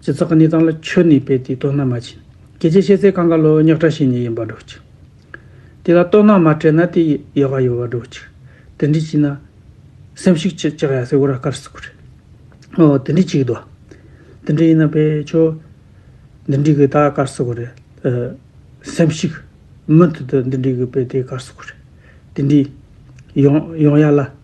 སྤྱི་ཚགས་གནས་སྟངས་ལ་ཆོས་ནི་དཔེ་དེ་ལྟོ་ན་མ་བྱིན་གྱི་ཅེས་བཤད་ཚེ་གང་ག་ལོ་རྙོག་དྲ་ཞིག་ནས་ཡིན་པར་སྒྲོག་ཅིག། དེ་ལ་ལྟོ་ན་མ་སྤྲད་ན་དེ་ཡོ་ག་ཡོད་པར་སྒྲོག་ཅིག་དེ་འདྲི་བྱེད་ན། སེམས་ཤུགས་ཅིག་ཅག་ཡ་སེ་བོ་ར་དཀར་སུ་ཁུ་རེད། ཨོ་དེ་འདྲི་བྱེད་དོ། དེ་འདྲི་ཡིན་ན་པེ་ཆོ། འདི་འདྲི་གི་ད་དཀར་སུ་ཁུ་རེད། སེམས་ཤུགས། མུ་མཐུད་དུ་འདི་འདྲི་གི་པེ་དེ་དཀར་སུ་ཁུ་རེད། དེ་འདྲི། ཡོང་ཡོང་ཡ་ལ།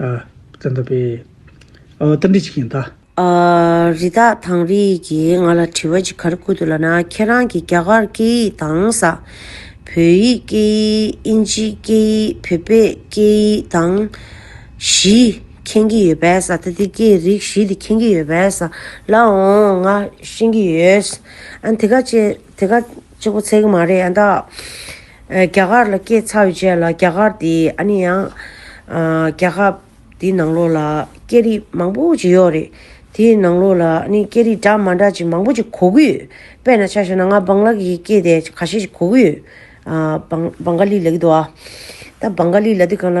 བཙན་ཐབས་པས། ཨོ་རྟ་འདྲི་བྱེད་མཁན་དག། རི་དྭགས་དང་རི་ཡིག་གིས་ང་ལ་དྲི་བ་ཅི་གར་བསྐུར་འདུག་ལ་ན་ཁྱེད་རང་གིས་རྒྱ་གར་སྐད་ཡིག་དང་ས་བོད་ཡིག་སྐད་ཡིག་དབྱིན་ཇི་སྐད་ཡིག་བོད་པའི་སྐད་ཡིག་དང། བཞི། མཁྱེན་གྱི་ཡོད་པས་ས་ད་དེ་སྐད་རིགས་བཞི་དེ་མཁྱེན་གྱི་ཡོད་པས་ས་ལ་འོང་ང་ཤེས་ཀྱི་ཡོད། ཨ་དེ་ག་ཅེས་དེ་ག། གཅིག་པོ་ཚིག་མ་རེད་ཨ་འདག། རྒྱ་གར་ལ་སྐྱེས་ཚར་བའི་རྗེས་ལ་རྒྱ་གར་དེ་ཨ་ནི་ཡང། རྒྱལ་ཁབ་དེའི་ནང་ལོགས་ལ་སྐད་རིགས་མང་པོ་ཅིག་ཡོད་རེད། དེའི་ནང་ལོགས་ལ་ཨ་ནི་སྐད་རིགས་འདྲ་མ་འདྲ་ཅིག་མང་པོ་ཅིག་གོ་གི་ཡོད། དཔེར་ན་ཆ་ཤོད་ན་ང་བང་ལ་གི་སྐད་དེ་ག་ཤེད་ཅིག་གོ་གི་ཡོད། བང་ག་ལི་ལ་གི་འདུག་ཨ། ད་བང་ག་ལི་ལ་དེ་གང་ལ།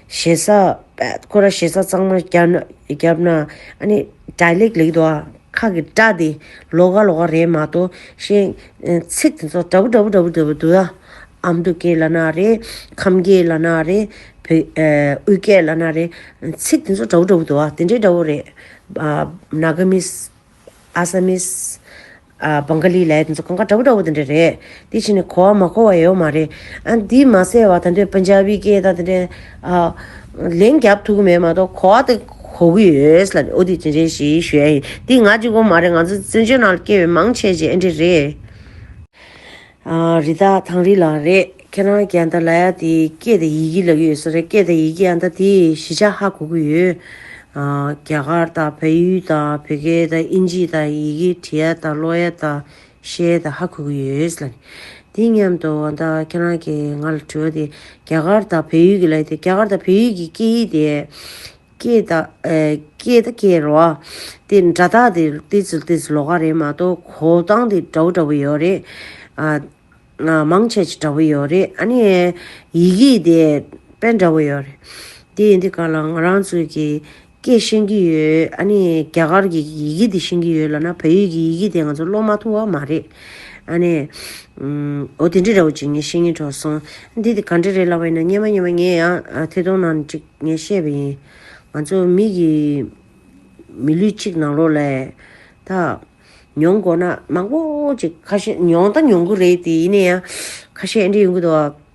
ཞེ་ས་ཁོ་ར་ཞེ་ས་གཙང་མ་རྒྱབ་ན་ཨ་ནི་སྒྲ་ལེགས་ལེགས་འདུག་ཨ་ཁ་གི་སྒྲ་དེ་ལོག་ག་ལོག་ག་རེད་མ་གཏོགས་གཞན་ཚིག་དེ་ཚོ་འདྲ་པོ་འདྲ་པོ་འདྲ་པོ་འདྲ་པོ་འདུག་ཨ་ཨ་མདོ་སྐད་ལ་ན་རེ་ཁམས་སྐད་ལ་ན་རེ་བོད་དབུས་སྐད་ལ་ན་རེ་ཚིག་དེ་ཚོ་འདྲ་པོ་འདྲ་པོ་འདུག་ཨ་དེ་འདྲའི་འདྲ་བོ་རེད་ཨ་ནཱ་ག་མི Assamese། Bengali། ལའི་དེ་ཚོ་གང་ག་འདྲ་བོ་འདྲ་བོ་དེ་འདྲ་རེད། དེ་ཕྱིར་ནས་གོ་བ་མ་གོ་བ་ཡོད་མ་རེད། དེ་མ་ཟད་བ་ད་འདྲའི Punjabi སྐད་དང་དེ་འདྲའི། ལན་རྒྱབ་ཐུབ་ཀྱི་མེད་མ་གཏོགས་གོ་བ་དེ་གོ་གི་ཡོད། ཨོ་དེ་ཅི་འདྲའི་ཞེས་ཞུ་ཡ་ཡིན། དེ་ང་གཅིག་པོ་མ་རེད་ང་ཚོ་བཙན་བྱོལ་ནང་ལ་སྐྱེས་པའི་མང་ཆེ་བྱེས་ཨེ་འདྲས་རེད། རི་དྭགས་ཐང་རི་ལ་རེད་ཁྱེད་རང་གི་ཨ་མདའ་ལ་ཡ་དེ་སྐད་དེ་ཡི་གི་ལབ་ཡོད་ས་རེད་སྐད་དེ་ཡི་གི་ཨ་མདའ་དེ་གཞི་ཆགས་ཧ་གོ་གི་ཡོད། རྒྱ་གར་དང་བལ་ཡུལ་དང་བོད་སྐད་དང་དབྱིན་ཇི་དང་ཡི་གི་བྲི་ཡ་དང་ཀློག་ཡ་དང་བཤད་ཡ་དང་ཧ་གོ་གི་ཡོད། དེ་མཉམ་དུ་ཨ་མདའ་ཁྱེད་རང་གི་ང་ལ་དྲི་བ་དེ་རྒྱ་གར་དང་བལ་ཡུལ་གི་ལ་ཡ་དེ་རྒྱ་གར་དང་བལ་ཡུལ་གི་སྐད་ཡིག་དེ། སྐྱེས་དང་སྐྱེས་རོ། དེ་འདྲ་དག་དེ་ཏི་ཙི་ཏི་ཙི་ལོ་ག་རེད་མ་གཏོགས་གོ་སྟངས་དེ་འདྲ་བོ་འདྲ་བོ་ཡོད་རེད། མང་ཆེ་ཆེ་འདྲ་བོ་ཡོད་རེད་ཨ་ནི། ཡི་གེ་དེ་དཔེ་འདྲ་བོ་ཡོད་རེད། དེ་ཡིན་དུས་ག་ལ་ང་རང་ཚོས་ཀྱི་སྐད་ཤེས་ཀྱི་ཡོད་ཨ་ནི་རྒྱ་གར་གྱི་ཡི་གེ་དེ་ཤེས་ཀྱི་ཡོད་ལ་ན་བོད་ཡིག་གི་ཡི་གེ་དེ་ང་ཚོ་ཀློག་མ་ཐུབ་བ་མ་རེད། ཨ་ནི། འོ་དེ་འདྲ་འདྲ་བོ་ཅིག་ངས་ཤེས་ཀྱིན་གྲོགས་སོང། འདི་དེ་ག་འདྲ་རེད་ལབ་པ་ཡིན་ན་སྙན་མ་སྙན་མ་ངས་ཡང་ཐེ་གཏོང་ནང་ཅིག། ངས་བཤད་པ་ཡིན། ང་ཚོ་མིག་གིས་མི་ལུས་གཅིག་ནང་ལོགས་ལས། ད། མྱོང་དགོ་ན་མང་པོ་ཅིག་ཁ་ཤས་མྱོང་ད་མྱོང་གི་རེད་དེ་ཡིན་ན་ཡང། ཁ་ཤས་ཨེ་འདྲས་ཡོང་གི་འདུག། ད་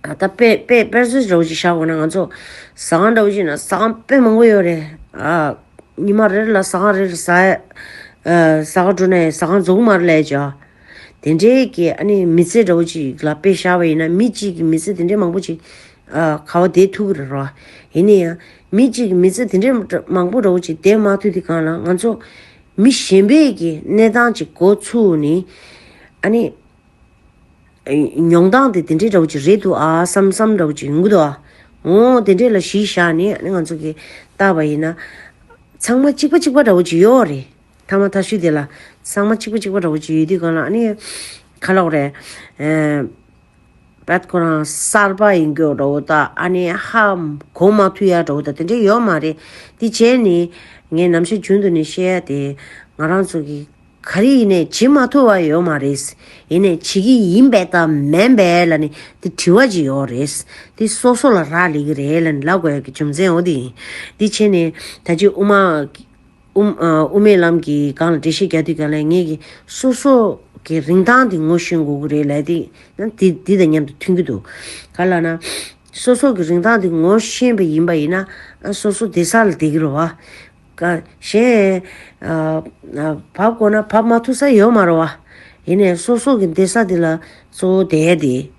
ལྟ་དཔེ་དཔེ་དཔེར་བརྗོད་འདྲ་བོ་ཅིག་བཞག་དགོ་ན་ང་ཚོ། ཟ་ཁང་འདྲ་བོ་ཞིག་ན་ཟ་ཁང་དཔེ་མང་པོ་ཡོད་རེད། ཉི་མ་རེར་ལ་ཟ་ཁང་རེར་ཟ། ཟ་ཁང་དྲུག་ན་ཡང་ཟ་ཁང་རྫོགས་གི་མ་རེད་ལས་བྱ། དེ་འདྲའི་གི་ཨ་ནི་མི་ཚེ་འདྲ་བོ་ཅིག་ལ་དཔེ་བཞག་པ་ཡིན་ན་མི་གཅིག་གི་མི་ཚེ་དེ་འདྲའི་མང་པོ་ཅིག། ག་བ་དེའི་ཐུགས་རེ་རོ། ཡིན་ན་ཡང། མི་གཅིག་མི་ཚེ་དེ་འདྲའི་མང་པོ་འགྲོ་གི་ཅིག་དེ་མ་ཐུག་དེ་གང་ལ་ང་ཚོ། མི་གཞན་པས་ཀྱི་གནས་སྟངས་ཅིག་གོ་ཚུགས་ནི། ཨ་ནི། མྱོང་སྟངས་དེ་དེ་འདྲའི་འདྲ་བོ་ཅིག་རེད་འདུག་ཨ་བསམ་བསམ་འདྲ་བོ་ཅིག་ཡོང་གི་འདུག་ཨ། ངོ། དེ་འདྲས་ལ་གཞི་བཞག་ནི་ཨ་ནི་ང་ཚོ་གི་བཏགས་པ་ཡིན་ན། ཚང་མ་གཅིག་པ་གཅིག་པ་འདྲ་བོ་ཅིག་ཡོད་རེད། ཐ་མ་ཐ་ཤུལ་དེ་ལ། ཚང་མ་གཅིག་པ་གཅིག་པ་འདྲ་བོ་ཅིག་ཡོད་དུས་གང་ལ་ཨ་ནི། ཁ་ལོག་རེད། བད་ཁོ་རང་གསར་པ་ཡིན་གྱོ་འདྲ་བོ་ད་ཨ་ནི་ཧ་གོ་མ་ཐུ་ཡ་འདྲ་བོ་ད་དེ་འདྲས་ཡོད་མ་རེད་དེ་བྱས་ནི་ངས་ནམ་ཞར་རྒྱུན་དུ་ནི་ཤེས་ཡ་དེ་ང་རང་ཚོ་གི་ག་རེ་ཡིན་ནས་བྱེད་མ་ཐུ་བ་ཡོད་མ་རེད་ཡིན་ནས་བྱེད་ཀྱི་ཡིན་བད་ད་མན་བད་ལ་ནི་དེ་དྲི་བ་ཅིག་ཡོད་རེད་དེ་སོ་སོ་ལ་རག་ལས་ཀྱི་རེད་ལ་ནི་ལ་དགོས་ཀྱི་རྒྱུ་མཚན་འོ་དེ་ཡིན་དེ་བྱས་ནི་ད་ཅི་དབུ་མ། དབུ་མའི་ལམ་གྱི་སྒང་ལ་འགྲེལ་བཤད་རྒྱག་དུས་ཀྱང་ལས་ངན་གྱི་སོ་སོ་གི་རིན་ཐང་དེ་ངོ་ཤེས་དགོས་ཀྱི་རེད་ལས་དེ་ཡང་དེ་དེ་དང་མཉམ་དུ་མཐུན་གྱི་འདུག་ག་ལ་ན། སོ་སོ་གི་རིན་ཐང་དེ་ངོ་ཤེས་པ་ཡིན་པ་ཡིན་ན་སོ་སོ་བདེ་ས་ལ་བསྡད་ཀྱི་རོ། བ་གཞན། བབ་དགོས་ན་བབ་མ་ཐུབ་ས་ཡོད་མ་རོ། བ་ཡིན་ནས་སོ་སོ་གི་བདེ་ས་དེ་ལ་གཙོ་བོ་བསྡད་དེ།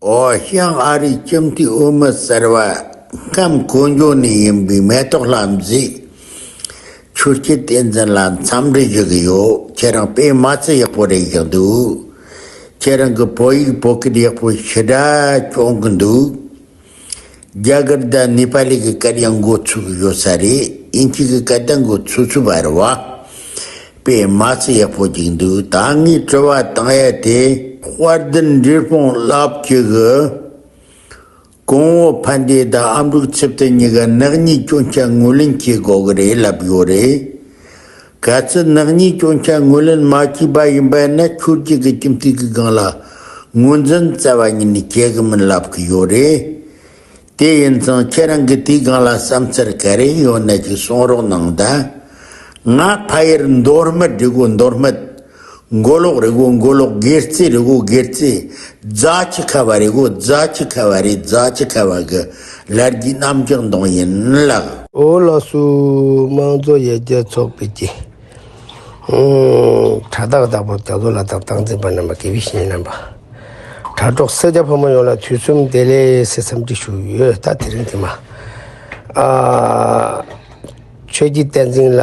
ཨོ་ཞང་ཨ་རིའི་ཁྱིམ་མཐུན་དབུ་མི་ཟེར་བ་ཁམས་གོ་འཇོ་ནས་ཡིན་པའི་མེ་ཏོག་ལྷ་མཛེས། ཆོས་སྐྱིད་བསྟན་འཛིན་ལ་འཚམས་འདྲི་ཞུ་གི་ཡོད་ཁྱེད་རང་དཔེ་མ་ཚད་ཡག་པོ་རེད་བཞག་འདུག་ཁྱེད་རང་གི་བོད་ཡིག་བོད་སྐད་ཡག་པོ་ཞི་དྲག་སྐྱོང་གི་འདུག། རྒྱ་གར་དང་ནེ་པ་ལི་གི་སྐད་ཡང་འགོ་ཚུགས་ཡོད་ས་རེད་ཨིན་སྐད་ཀྱི་སྐད་བརྡ་འགོ་ཚུགས་ཚུལ་བར་བ་དཔེ་མ་ཚི་ཡག་པོ་གྱིས་འདུག་ད་ངས་དྲི་བ་བཏང་ཡ་དེ། དཔལ་ལྡན་འབྲས་སྤུངས་རླབས་ཀྱི་གི། གོང་འོག་ཕན་བདེའི་དང་ཨ་འབྲུག་ཚེ་བརྟན་གཉིས་ཀ་ནག་ཉེས་སྐྱོན་ཆ་ངོས་ལེན་བྱེད་དགོས་གི་རེད་ལབ་ཡོད་རེད། ག་ཚད་ནག་ཉེས་སྐྱོན་ཆ་ངོས་ལེན་མ་བྱས་པ་ཡིན་པས་ན་ཁྱོད་རྒྱལ་ཁའི་ཁྱིམ་མཚེས་ཀྱི་སྒང་ལ་ངོས་འཛིན་བསྩལ་བ་ཉིད་ནས་བྱེད་གི་མིན་ལབ་གི་ཡོད་རེད། དེ་ཡིན་ཙང་ཁྱེད་རང་གིས་དེའི་སྒང་ལ་བསམ་འཆར་ག་རེ་ཡོད་ན་ཅིག་གསུང་རོགས་གནང་དང། ང་ཕ་ཡུལ་མདོ་སྨད་སྒྲིག་བཀོད་མདོ་སྨད། མགོ་ལོག་རི་གུག་མགོ་ལོག་སྒེར་རྩེ་རི་གུག་སྒེར་རྩེ། རྫ་ཁྱི་ཁ་བ་རི་གུག་རྫ་ཁྱི་ཁ་བ་རི་རྫ་ཁྱི་ཁ་བ་གི་ལར་རྒྱུས་རྣམ་གྲངས་མདོངས་ཡིན་ལགས། ཨོ་ལ་སུའུ་དམངས་གཙོ་ཡར་རྒྱས་ཚོགས་པའི་ཀྱི་དྲ་བདག་བདག་པོ་རྒྱ་མཚོ་ལ་དྭགས་ཏང་འཛིན་པ་རྣམ་པ་དགེ་བའི་བཤེས་གཉེན་རྣམ་པ། དྲ་གྲོགས་སེར་སྐྱ་ཕོ་མོ་ཡོངས་ལ་དུས་གསུམ་བདེ་ལེགས་སེ་འཚམས་འདྲི་ཞུ་ཡོད་ད་དེ་རིང་དེ་མ་ཨ། ཆོས་རྒྱུད་བསྟན་འཛིན་ལ་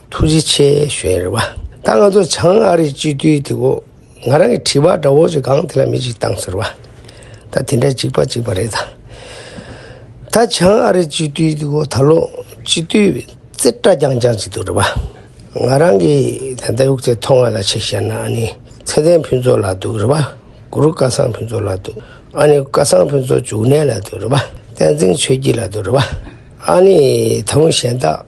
ཐུགས་རྗེ་ཆེ་ཞུ་ཡི་རེད་བ། ད་ང་ཚོ་བྱང་ཨ་རིའི་སྤྱི་འཐུས་དེ་གོ་ང་རང་གི་དྲི་བ་འདྲ་བོ་ཞིག་གང་དེ་ལ་མི་ཅིག་བཏང་ཟེར་བ། ད་དེ་འདྲ་ཅིག་པ་ཅིག་པ་རེད་ད། ད་བྱང་ཨ་རིའི་སྤྱི་འཐུས་དེ་གོ་ད་ལོ་སྤྱི་འཐུས་རྩེ་གྲ་རྒྱང་རྒྱང་ཅིག་འདུག་རེད་བ། ང་རང་གི་ད་ལྟ་དབུགས་རྩེ་མཐོང་བ་ལ་ཆེ་བཤད་ན་ཨ་ནི་ཚེ་བརྟན་ཕུན་ཚོགས་ལགས་འདུག་རེད་བ། གུ་རུ་སྐལ་བཟང་ཕུན་ཚོགས་ལགས་འདུག་ཨ་ནི་སྐལ་བཟང་ཕུན་ཚོགས་འབྱུང་གནས་ལ་འདུག་རེད་བ། བསྟན་འཛིན་ཆོས་སྐྱིད་ལགས་འདུག་རེད་བ། ཨ་ནི་ད་དབུས་གཞན་དག།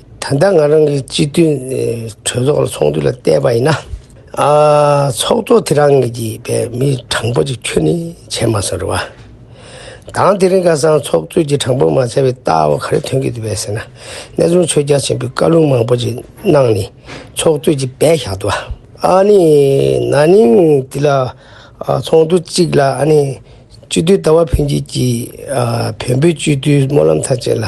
ད་ལྟ་ང་རང་གི་སྤྱི་མཐུན་གྲོས་ཚོགས་ལ་ཚོགས་འདུ་ལ་བལྟས་པ་ཡིན་ན། ཚོགས་གཙོ་དེ་རང་ངེད་ཀྱི་པའི་མི་དྲང་པོ་ཅིག་ཁྱོད་ནི་བྱས་མ་སོང་རེད་བ། དང་དེ་རིང་ཁ་སང་ཚོགས་གཙོས་ཀྱི་དྲང་པོ་མ་བྱས་པའི་རྟགས་བ་ག་རེ་ཐོན་གྱི་འདུག་བས་ཟེར་ན་གནས་ཚུལ་ཆོས་རྒྱ་ཆེན་པོའི་བཀའ་ལུང་མང་པོ་ཅིག་གནང་ནས་ཚོགས་གཙོས་ཀྱི་པས་བཞག་འདུག་བ། ཨ་ནི་ན་ནིང་འདི་ལ་ཚོགས་འདུ་གཅིག་ལ་ཨ་ནི་སྤྱི་མཐུན་ལྟ་བ་འཕེལ་འགྱེད་ཀྱི་བོན་པོའི་སྤྱི་མཐུན་སྨོན་ལམ་ཐང་ཆེན་ལ།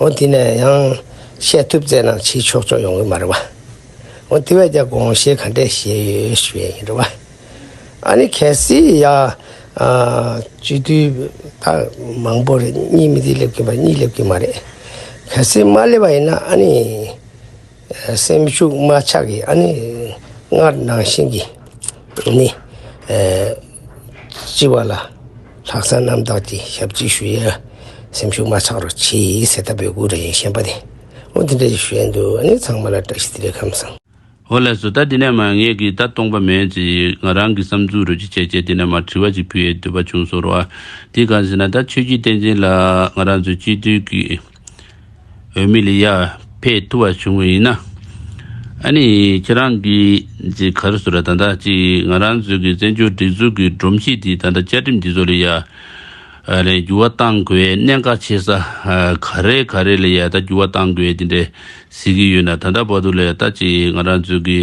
འོ་དེ་ནས་ཡང་བཤད་ཐུབ་ཙེ་ན་ཕྱིའི་ཕྱོགས་ཕྱོགས་ཡོང་གི་མ་རེད་བ། འོ་དེ་བས་ཀྱང་དགོངས་བཞེས་ག་འདྲས་བཞེས་ཡོད་ཞུས་ཡས་ཡིན་རེད་བ། ཨ་ནི་གལ་སྲིད་ཡ། སྤྱི་འཐུས་ད་མང་པོ་རེད་གཉིས་མི་དེ་སླེབས་ཀྱི་མ་རེད་གཉིས་སླེབས་ཀྱི་མ་རེད། གལ་སྲིད་མ་སླེབས་པ་ཡིན་ན་ཨ་ནི། སེམས་ཤུགས་མ་ཆགས་ཀྱི་ཨ་ནི་སྔར་ནང་བཞིན་གྱི་ནི་སྤྱི་བ་ལ་ལྷག་བསམ་རྣམ་དག་གི་ཞབས་ཀྱིས་ཞུ་ཡ་སེམས་ཤུགས་མ་ཆགས་རོགས་བྱས་ཟེར་ད་བོད་སྐུ་རེད་ཞེན་པ་དེ་འོ་དེ་འདྲ་ཞིག་ཞུ་ཡ་འདུག་ཨ་ནི་ཚང་མ་ལ་བཀྲ་ཤིས་བདེ་ལེགས་ཁམས་བཟང། ཧོ་ལས་སོ་ད་འདི་ནས་མ་ངེས་ཀྱི་ད་སྟོང་པ་མེད་ཅེས་ང་རང་གི་བསམ་ཚུལ་རོ་གཅིག་བྱས་རྗེས་འདི་ནས་མར་དྲི་བ་ཅིག་ཕུལ་ཡས་འདོད་པ་བྱུང་སོང་རོགས་ཨ་དེ་གང་ཟེར་ན་ད་ཆོས་རྒྱུད་བསྟན་ཅན་ལ་ང་རང་ཚོའི་སྤྱི་འཐུས་ཀྱི་འོས་མི་ལ་ཡར་འཕེལ་ཐུབ་པ་བྱུང་བ་ཡིན་ན། ཨ་ནི་ཁྱེད་རང་གིས་ཅི་གར་བཟོས་ར་ད་ལྟ་ཅི་ང་རང་ཚོའི་གི་བཙན་བྱོལ་སྒྲིག་འཛུགས་ཀྱི་སྒྲོམ་གཞི་དེ་ད་ལྟ་བཅའ་ཁྲིམས་དེ་ཚོ་ལ་ཡར་རེ་འགྱུར་བ་གཏང་དགོས་གནད་འགག་ཆེ་ས་ག་རེ་ག་རེ་ལ་ཡར་ད་འགྱུར་བ་གཏང་དགོས་དེ་འདྲས་ཟེར་གི་ཡོད་ན་ད་ལྟ་བར་དུ་ལ་ཡར་ད་ཅི་ང་རང་ཚོའི་གི་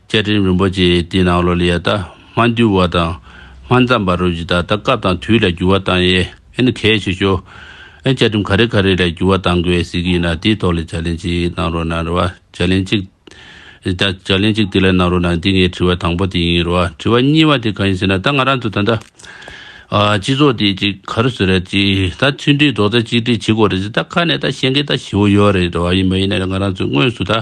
བསྐྱེད་རིམ་རིན་པོ་ཆེའི་དེའི་ནང་ལོ་ལས་ཡལ་དག་མ་འདུལ་བ་དང། མ་འཛམ་པ་རོལ་གྱི་ད་ལྟ་སྐབས་དང་དུས་ལ་རྒྱུ་བ་བཏང་ཡས་ཨེ་ནི་གལ་ཆེ་ཤོས། ཨེ་བསྐྱེད་རིམ་ག་རེ་ག་རེ་ལས་རྒྱུ་བ་བཏང་དགོས་ཟེར་གྱི་ཡིན་ན་དེའི་ཐོག་ལས་བྱ་ལན་གཅིག་གནང་རོགས་གནང་རེ་བ་བྱ་ལན་གཅིག། བྱ་ལན་གཅིག་དེ་ལས་གནང་རོགས་གནང་འདི་ངའི་དྲི་བ་དང་པོ་དེ་ཡིན་རེ་བ་དྲི་བ་གཉིས་བ་དེ་གང་ཡིན་ཟེར་ན་ད་ང་རང་ཚོ་ད་ལྟ། སྤྱི་ཚོགས་དེ་ཅིག་ག་རེ་ཟེར་རེད་ཅིག་ད་མཐུན་སྒྲིལ་རྡོག་རྩ་གཅིག་སྒྲིལ་བྱེད་དགོས་རེད་ཟེར་ད་ཁ་ནས་ད་བཤད་མཁན་ད་བྱེའུ་ཡོད་རེད་རེ་བ་ཡིན་མ་ཡིན་ན་རེ་ང་རང་ཚོས་དངོས་སུ་ད།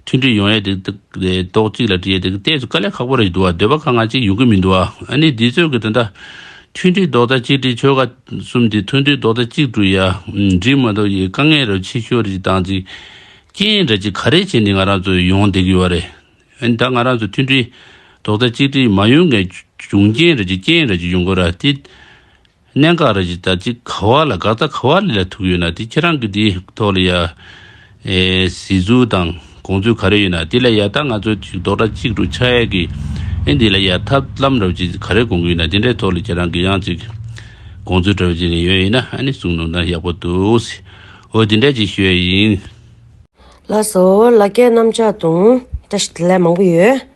མཐུན་སྒྲིལ་ཡོང་ཡས་དེ་ཏོག་ཅིག་ལ་དྲིས་ཡས་དེ་ལྟས་སུ་དཀའ་ལས་ཁག་པོ་རེད་འདུག་བ་འདོད་པ་ཁག་ང་ཅིག་ཡོང་གི་མི་འདུག་བ་ཨ་ནི་འདི་ཚོད་ཀྱི་དེ་འདྲ་མཐུན་སྒྲིལ་རྡོག་རྩ་གཅིག་སྒྲིལ་ཆོལ་ཁ་གསུམ་དེ་མཐུན་སྒྲིལ་རྡོག་རྩ་གཅིག་དྲུག་ཡ་འགྲིག་མ་འདུག་ཡས་དཀའ་ངལ་རོ་ཆེ་ཤོས་རེ་ཅིག་བཏང་ཅིག་རྐྱེན་འདྲ་ཅིག་ག་རེ་བྱས་ནས་ང་རང་ཚོ་ཡོང་བསྡད་ཀྱི་ཡོད་བ་རེད་ཨ་ནི་ད་ང་རང་ཚོ་མཐུན་སྒྲིལ་རྡོག་རྩ་གཅིག་སྒྲིལ་མ་ཡོང་ངའི་འབྱུང་རྐྱེན་རེ་ཅིག་རྐྱེན་རེ་ཅིག་ཡོང་དགོས་ར་དེ། གནད་འགག་རེད་ཅེས་ད་ཅི་ག་བ་ལ་དགག་ད་ག་བ་ལས་ལ་ཐུག་ཡོད་ན་དེ་ཁྱེད་རང་གི་དེའི་ཐོག་ལ་ཡ། ཟིག་ཚུལ་དང་དགོངས་ཚུལ་ག་རེ་ཡོད་ན་དེ་ལ་ཡ་ད་ང་ཚོ་ཅིག་རྡོག་སྒྲ་གཅིག་ཏུ་ཆགས་ཡས་ཀི་ཨེ་འདི་ལ་ཡ་ཐབས་ལམ་རེ་བ་ཅིག་ག་རེ་དགོངས་ཀི་ཡོད་ན་དེ་འདྲའི་ཐོག་ལ་ཁྱེད་རང་གི་ཡང་ཅིག་དགོངས་ཚུལ་བྲ་བ་ཅིག་ནས་ཡོད་ཡིན་ན་ཨ་ནི་གསུང་ནོ་ད་ཡག་པོ་འདུག་འོ་དེ་འདྲ་ཅིག་ཞུ་ཡ་ཡིན། ལགས་སོ་ལ་སྐད་གནམ་ལྕགས་དུང་ཏྲ་ཞིག་ལས་མང་པོ་ཡོད།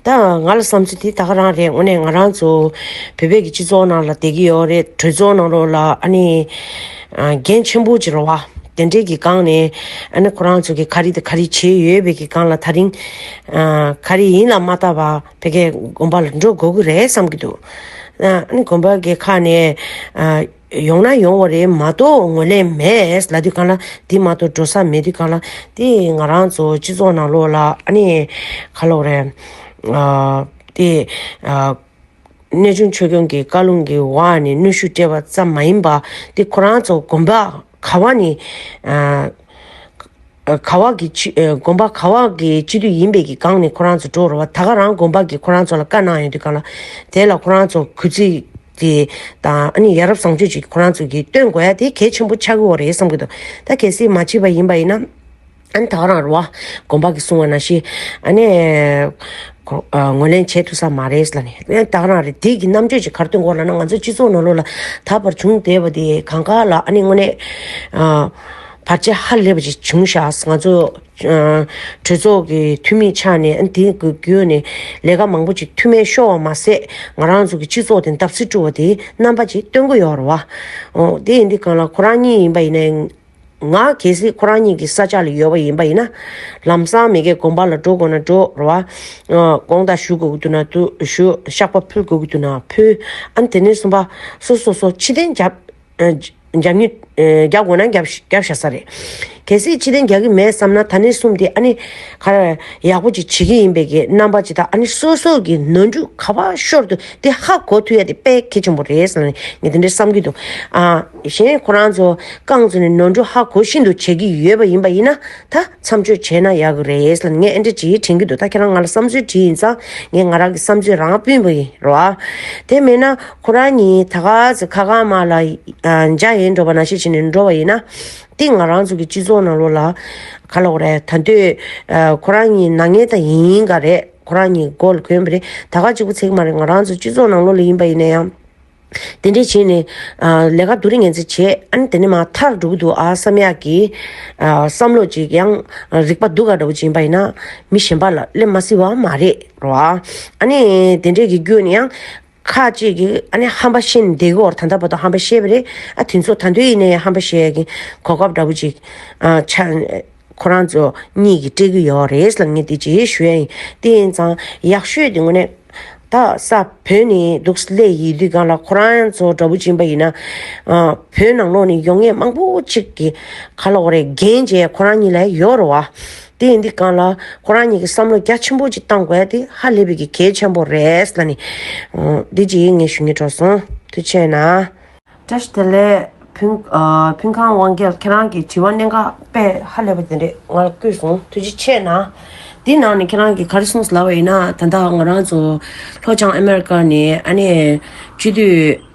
ད་ང་ལ་བསམ་ཚེ་དེ་ད་ག་རང་རེད་དངོས་གནས་ང་རང་ཚོ་བོད་པའི་གི་སྤྱི་ཚོགས་ནང་ལ་བསྡད་ཀྱི་ཡོད་རེད་གྲོས་ཚོགས་ནང་རོགས་ལ་ཨ་ནི་རྒན་ཆེན་པོ་གྱི་རོགས་བ་དེ་འདྲས་གི་སྒང་ནས་ཨ་ནི་ཁོ་རང་ཚོ་གི་ག་རེ་དང་ག་རེ་བྱས་ཡོད་བའི་གི་སྒང་ལ་ཐག་རིང་ག་རེ་ཡིན་ལ་མ་ལྟ་བ་བོད་སྐད་དགོན་པ་ལ་འགྲོ་དགོས་ཀྱི་རེད་བསམ་གྱི་འདུག་ཨ་ནི་དགོན་པ་གི་ཁ་ནས་ཡོང་ན་ཡོང་བ་རེད་མ་གཏོགས་ངོས་ལེན་མེད། ལ་དུས་གང་ལ་དེ་མ་གཏོགས་འགྲོ་ས་མེད་དུས་གང་ལ་དེ་ང་རང་ཚོ་སྤྱི་ཚོགས་ནང་ལོག་ལ་ཨ་ནི། ཁ་ལོག་རེད། དེ། གནས་ཆུང་ཆོས་སྐྱོང་གི་བཀའ་ལུང་གི་འོག་ཨ་ནི་གནོད་ཤུགས་སྤྲད་པ་ཙམ་མ་ཡིན་པ། དེ་ཁོ་རང་ཚོ་དགོན་པ་ག་བ་ནི། ག་བ་གི་དགོན་པ་ག་བ་གི་སྤྱི་འཐུས་ཡིན་པས་ཀྱི་གང་ནས་ཁོ་རང་ཚོ་འགྲོ་རུ་བ་ད་ག་རང་དགོན་པ་གི་ཁོ་རང་ཚོ་ལ་བཀའ་གནང་ཡོད་དུས་གང་ལ་དེ་ལ་ཁོ་རང་ཚོ་གུས་ཚིག་གི་དང་ཨ་ནི་ཡ་རབས་བཟང་སྤྱོད་ཅིག་ཁོ་རང་ཚོ་གི་སྟོན་དགོས་ཡ་དེ་གལ་ཆེན་པོ་ཆགས་ཀྱི་འོ་རེད་བསམ་གྱི་འདུག་ད་གལ་སྲིད་མ་མཆིས་པ་ཡིན་པ་ཡིན་ན་ཨ་ནི་ད་ག་རང་རུ་བ་དགོན་པ་གི་གསུང་བ་ན་ཤི་ཨ་ནི་ངོས་ལེན་བྱེད་ཐུབ་ས་མ་རེད་ལ་ནི་ད་ག་རང་རེད་དེ་གི་རྣམ་དཔྱོད་ཅིག་གར་སྟོན་དགོས་ལ་ན་ང་ཚོ་སྤྱི་ཚོགས་ནང་ལོག་ལ་ད་བར་བྱུང་བསྡད་པ་དེ་གང་ག་ལ་ཨ་ནི་དངོས་གནས། བར་ཆད་ཧ་ལས་པ་ཅིག་བྱུང་ཤག་ང་ཚོ་གྲོས་ཚོགས་ཀྱི་འཐུས་མི་ཆགས་ནས་ཨ་འདི་བརྒྱུད་ནས་ལས་ཀ་མང་པོ་ཅིག་མཐུ་མེད་ཤོར་བ་མ་ཟད་ང་རང་ཚོ་གི་སྤྱི་ཚོགས་དེ་འདབ་བརྩིགས་བཀྲུ་བ་དེ་རྣམ་པ་ཅིག་སྟོན་གི་ཡོད་རེད་བ། དེ་ཡིན་དུས་གང་ལ་ཁོ་རང་གཉིས་ཡིན་པ་ཡིན་ན་ང་གལ་སྲིད་ཁོ་རང་གཉིས་ཀྱི་ས་ཆ་ལ་ཡོད་པ་ཡིན་པ་ཡིན་ན་ལམ་སང་མི་སྐད་གོམ་པ་ལ་འགྲོ་དགོས་ན་འགྲོ་རེད་བ། དགོངས་དག་ཞུ་དགོས་ཀྱི་འདུག་ན་ཞུ་ཤག་པ་ཕུལ་དགོས་ཀྱི་འདུག་ན་ཕུལ་ཨ་དེ་ནས་གསུམ་པ་སོ་སོ་སོ་ཕྱི་གཏན་རྒྱབ་རྒྱབ་མྱུལ། རྒྱག་དགོས་ན་རྒྱབ་བཞག་ས་རེད། གལ་སྲིད་ཕྱི་དེང་རྒྱག་གི་མེད་བསམ་ན་ད་ནི་གསུམ་དེ་ཨ་ནི། ཡག་པོ་ཅིག་བྱེད་ཀྱི་ཡིན་པས་ཀྱི་རྣམ་པ་ཇི་ལྟ་ཨ་ནི་སོ་སོ་གི་ནོར་འཁྲུལ་ག་པ་ཤོར་དུ་དེ་ཧ་གོ་ཐུ་ཡ་དེ་དཔེ་གལ་ཆེན་པོ་རེད་བསམ་ནས་ངས་དེ་འདྲའི་བསམ་གྱི་འདུག་ཨ། གཞན་ཁོ་རང་ཚོ་རྐང་ཚུགས་ནས་ནོར་འཁྲུལ་ཧ་གོ་བཞིན་དུ་བྱེད་ཀྱི་ཡོད་པ་ཡིན་པ་ཡིན་ན་ད་མཚམས་གཅོད་བྱས་ན་ཡག་གི་རེད་ལ་ངས་ཨེ་འདྲ་ཅིག་དྲན་གྱི་འདུག་ད་ཁྱེད་རང་ང་ལ་བསམ་ཚུལ་དྲིས་ཡིན་ཙང་ངས་ང་རང་གི་བསམ་ཚུལ་རང་དཔེ་འབུལ་གྱི་རོ། དེ་མེད་ན། ཁོ་རང་ཉིད་ད་ག་ཟེ་ཁ་ག་མ་ལ་འཇའ་ཡེ་འགྲོ་བ་ན་ཤེས་བྱེད་ནས་འགྲོ་བ་ཡིན་ན། འདི་ང་རང་ཚོ་གི་སྤྱི་ཚོགས་ནང་ལོག་ལ་ག་ལོག་རེད་ད་འདོད་ཁོ་རང་ཉིད་ནག་ཉེས་དང་ཡིན་ཡིན་ག་རེད་ཁོ་རང་ཉིད་མགོ་ལ་གོན་པ་རེད་ད་ག་གཅིག་པོ་ཚེག་མ་རེད་ང་རང་ཚོ་སྤྱི་ཚོགས་ནང་ལོག་ལ་ཡིན་པ་ཡིན་ན་ཡང། དེ་འདྲས་བྱེད་ནས་ལས་ཀ་དུ་རིང་ངན་ཚེ་བྱེད་ཨ་ནི་དེ་འདྲས་མ་ཐག་འགྲོ་གི་འདུག་ཨ་བསམ་ཡག་གི་བསམ་བློ་ཅིག་ཡང་རིག་པ་སྡུག་ག་འདྲ་བོ་ཅིག་ཡིན་པ་ཡིན་ན་མི་གཞན་པ་ལ་སླེབས་མ་སྲིད་བ་མ་རེད་རོ། ཨ་ནི་དེ་འདྲས་ཀྱི་རྒྱུ་ནི་ཡང། ཁ་ཅིག་གིས་ཧམ་པ་ཤིན་ཏུ་བདེ་གི་འོག་ད་ལྟ་བར་དུ་ཧམ་པ་ཤེས་པ་རེད། དེ་ཚོ་ད་འདོད་ཡིན་ན་ཡང་ཧམ་པ་ཤེས་ཡ་གི་གོ་སྐབས་འདྲ་པོ་ཅིག་ཁོ་རང་ཚོ་གཉིས་ཀྱིས་སྤྲད་ཀྱི་ཡོད་རེད་ལ་ངས་དེ་བརྗེད་ཞུ་ཡ་ཡིན། དེ་ཡིན་ཙང་ཡག་ཤོས་དེ་དངོས་གནས་ད་ས་བོད་ནས་འདུག་སླད་ཡིན་དུས་གང་ལ་ཁོ་རང་ཚོ་འདྲ་པོ་སྦྱིན་པ་ཡིན་ན། བོད་ནང་ལོགས་ནས་ཡོང་ངེས་མང་པོ་ཅིག་གི་ཁ་ལོག་རེ་འགན་བཅས་ཁོ་རང་གཉིས་ལ་ཡོད་རེད་བ། དེ་ཡིན་དུས་གང་ལ་ཁོ་རང་ཉིད་ཀྱི་བསམ་བློ་རྒྱ་ཆེན་པོ་ཅིག་བཏང་དགོས་དེ་ཧ་ལས་པའི་གི་གལ་ཆེན་པོ་རེད་ལ་ནི། འདི་གཅིག་ངས་ཞུ་ཉེ་གྲོགས་སོང་དུས་ཆེ་ན། བཀྲ་ཤིས་དེ་ལས་ཕུན་ཁང་དབང་རྒྱལ་ཁྱེད་རང་གི་དྲི་བ་གནད་འགག་དཔེ་ཧ་ལས་པ་དེ་འདྲས་ང་ལ་བསྐུལ་སོང་དུས་གཅིག་ཆེ་ན། འདི་ནང་ནས་ཁྱེད་རང་གིས་ག་རེ་གསུངས་སླ་བ་ཡིན་ན་ད་ལྟ་ང་རང་ཚོ་ལྷོ་བྱང་ཨ་མེ་རི་ཀ་ནས་ཨ་ནེ་བཅུ་དུས།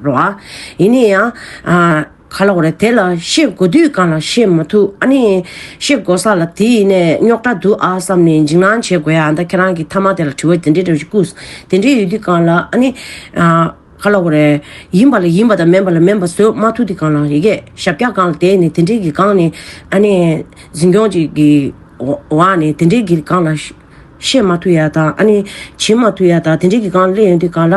རོ། ཡིན་ནས་ཡང། ག་ལ་འོར་དེ་ལ་ཤེས་དགོས་དུས་གང་ལ་ཤེས་མ་ཐུབ་ཨ་ནི། ཤེས་དགོས་ས་ལ་དེ་ཡིན་ནས་རྙོག་དྲ་འདུག་ཨ་བསམ་ནས་འཇིགས་སྣང་བྱེད་དགོས་ཡ་ད་ཁྱེད་རང་གི་མཐའ་མ་དེ་ལ་དྲི་བ་དེ་འདྲའི་འདྲ་བཞིན་སྐུ། དེ་འདྲའི་ཡོད་དུས་གང་ལ་ཨ་ནི། ག་ལ་འོར། ཡིན་པ་ལ་ཡིན་པ་དང་མིན་པ་ལ་མིན་པ་བཟོས་མ་ཐུབ་དུས་གང་ལ་ཡི་གེ་ཞབས་བཀྱག་གང་ལ་དེ་ནི་དེ་འདྲའི་གི་གང་ནི་ཨ་ནི། འཛིན་སྐྱོང་གཅིག་གི་བ་ནི་དེ་འདྲའི་གི་གང་ལ་ཤེས་མ་ཐུབ་ཡ་ད་ཨ་ནི། བྱེད་མ་ཐུབ་ཡ་ད་དེ་འདྲའི་གི་གང་ལ་སླེབས་ཡོང་དུས་གང་ལ།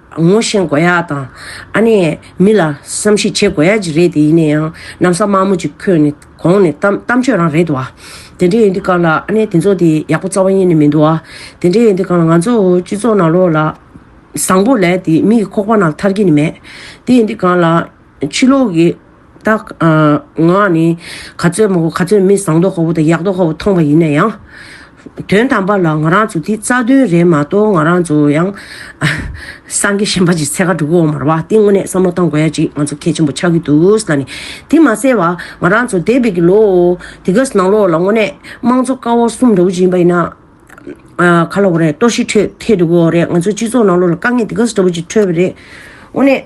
ངོ་བཤེན་དགོས་ཡག་དང། ཨ་ནེ། མི་ལ། བསམ་ཤེས་བྱེད་དགོས་ཡག་ཅིག་རེད་དེ་ཡིན་ན་ཡང། གནམ་ས་དམར་མོ་ཅིག་ཁོས་ནི། གོང་ནས། གཏམ་སྤྱོད་རང་རེད་དོ། དེ་འདྲའི་ཡོན་ཏི་ཀང་ལ། ཨ་ནེ་དེ་ཚོ་དེ། ཡག་པོ་རྩ་བ་གཉིས་ནི་མིན་འདུག། དེ་འདྲའི་ཡོན་ཏི་ཀང་ལ་ང་ཚོ། སྤྱི་ཚོགས་ནང་ལོག་ལ། བཟང་པོ་ལས་དེ། མི་ཡི་ཁོག་པ་ནང་ལ་ཐར་གྱི་ནི་མེད། དེ་ཡོན་ཏི་ཀང་ལ། ཕྱི་ལོག་གི། རྟགས། ངག་ནི། ག་ཚོད་མོ་ག་ཚོད་མི་བཟང་དོགས་དགའ་བོ་དང་ཡག་དོགས་དགའ་བོ་མཐོང་བ་ཡིན་ན་ཡང། དོན་དམ་པར་ལ་ང་རང་ཚོ་དེ་རྩ་དོན་རེད་མ་གཏོགས་ང་རང་ཚོ་ཡང། སངས་རྒྱས་གཞན་པ་ཅིག་ཚེ་ག་དྲུག་གི་འོག་མར་བ་དེ་དངོས་གནས་བསམ་བློ་བཏང་དགོས་ཡ་ཅིག་ང་ཚོ་གལ་ཆེན་པོ་ཆགས་ཀྱི་འདུག་ས་ནི། དེ་མ་ཟད་བ་ང་རང་ཚོ་འདས་པའི་གི་ལོ། དེ་ག་ནང་ལོགས་ལ་དངོས་གནས་དམངས་གཙོ་ཀ་བ་གསུམ་འདྲ་བོ་ཅིག་ཡིན་པ་ཡིན་ན། ག་ལ་བ་རེད་གཏོར་བཤིག་འཕྲོད་ཐེ་འདུག་གོ་རེད་ང་ཚོ་སྤྱི་ཚོགས་ནང་ལོགས་ལ་དཀའ་ངལ་དེ་ག་ས་འདྲ་བོ་ཅིག་འཕྲོད་པ་རེད། དངོས་གནས།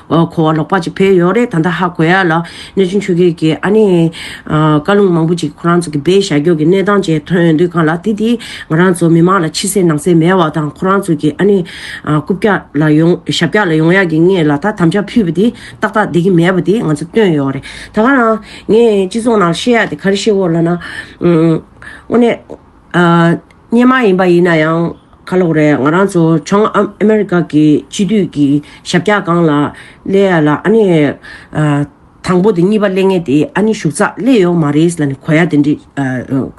ཁོ་བ་ལོག་པ་ཅིག་བེད་ཡོད་རེད་ད་ལྟ་ཧ་གོ་ཡ་ལ་གནས་ཆུང་ཆོས་སྐྱིད་ཀྱིས་ཨ་ནི། བཀའ་ལུང་མང་པོ་ཅིག་ཁོ་རང་ཚོ་གི་བེད་ཞྭ་འགྱོག་གི་གནས་སྟངས་བཅས་ཐོན་དུས་གང་ལ་དེ་དེ་ང་རང་ཚོ་མི་མང་ལ་ཕྱི་གསལ་ནང་གསལ་མེད་བ་དང་ཁོ་རང་ཚོ་གི་ཨ་ནི། རྐུབ་བཀྱག་ལ་ཡོང་ཞྭ་བཀྱག་ལ་ཡོང་ཡ་གི་ངས་ལ་ད་དམ་བཅའ་ཕུད་པ་དེ་ཏག་ཏག་བསྡད་ཀྱི་མེད་པ་དེ་ང་ཚོ་སྟོན་ཡོད་རེད་ད་ག་རང། ངས་སྤྱི་ཚོགས་ནང་བཤད་ཡ་དེ་ག་རེ་བཤད་འོ་ལ་ན། དངོས་གནས། གཉེན་མ་ཡིན་པ་ཡིན་ན་ཡང་ཁ་ལོག་རེད་ང་རང་ཚོ་བྱང་ཨ་མེ་རི་ཀ་གི་སྤྱི་འཐུས་ཀྱི་ཞབས་ཀྱག་སྒང་ལ་སླེ་ཡ་ལ་ཨ་ནི་དང་པོ་དེ་གཉིས་པ་སླེ་ངེས་དེ་ཨ་ནི་ཞུགས་ཚགས་སླེ་ཡོད་མ་རེད་ལ་ནི་གོ་ཡ་དེ་འདྲི་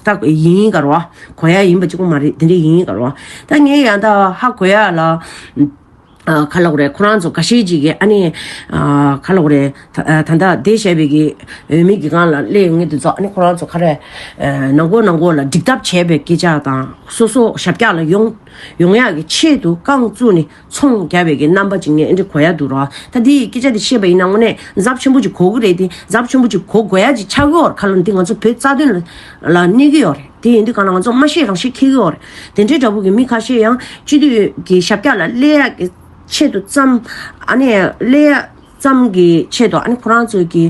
ད་ཡིན་ཡིན་གར་བ་གོ་ཡ་ཡིན་པ་གཅིག་པོ་མ་རེད་དེ་འདྲི་ཡིན་ཡིན་གར་བ་ད་ངས་ཡང་དག་ཧ་གོ་ཡ་ལ། ཁ་ལོག་རེད་ཁོ་རང་ཚོ་ག་ཤེད་ཅིག་གི་ཨ་ནེ། ཁ་ལོག་རེད། ད་ལྟ་བསྡད་བྱས་པའི་གི་འོས་མི་གི་སྒང་ལ་སླེ་ཡོང་ངེས་དུ་རྫོགས་ཨ་ནེ་ཁོ་རང་ཚོ་ཁ་རས། ནང་སྒོ་ནང་སྒོ་ལ་འགྲིག་ཐབས་བྱས་པའི་སྐད་ཆ་དང་སོ་སོ་ཞབས་ཀྱག་ལ་ཡོང། ཡོང་ཡག་གི་ཆེད་དུ་རྐང་བཙུགས་ནི་ཚོང་རྒྱ་བའི་གི་རྣམ་པ་ཅིག་ནས་ཨེ་འགྲིག་གོ་ཡག་འདུག་རོགས་ད་འདི་ཡི་སྐད་ཆ་འདི་བཤད་པ་ཡིན་ན་དངོས་གནས་འཛབ་ཆེན་པོ་ཅིག་གོ་གི་རེད་དེ་འཛབ་ཆེན་པོ་ཅིག་གོ་དགོས་ཡག་ཅིག་ཆགས་ཀྱི་འོར་ཁ་ལོ་འདི་ང་ཚོ་བོད་རྩ་དོན་ལ་གནས་གི་ཡོད་རེད་དེ་ཡིན་དུས་གང་ལ་ང་ཚོ་སྨྲ་ཤེས་རང་ཤེས་ཁེལ་གི་འོར། དེ་འདྲའི་འདྲ་པོ་གི་མི་ཁ་ཤས་ཡང་སྤྱི་འཐུས་ཀྱི་ཞབས་བཀྱག་ལ་སླེ་ཡག་གི་ཆེད་དུ་བརྩམས། ཨ་ནི་སླེ་ཡག་བརྩམས་གི་ཆེད་དུ་ཨ་ནི་ཁོ་རང་ཚོས་ཀྱི་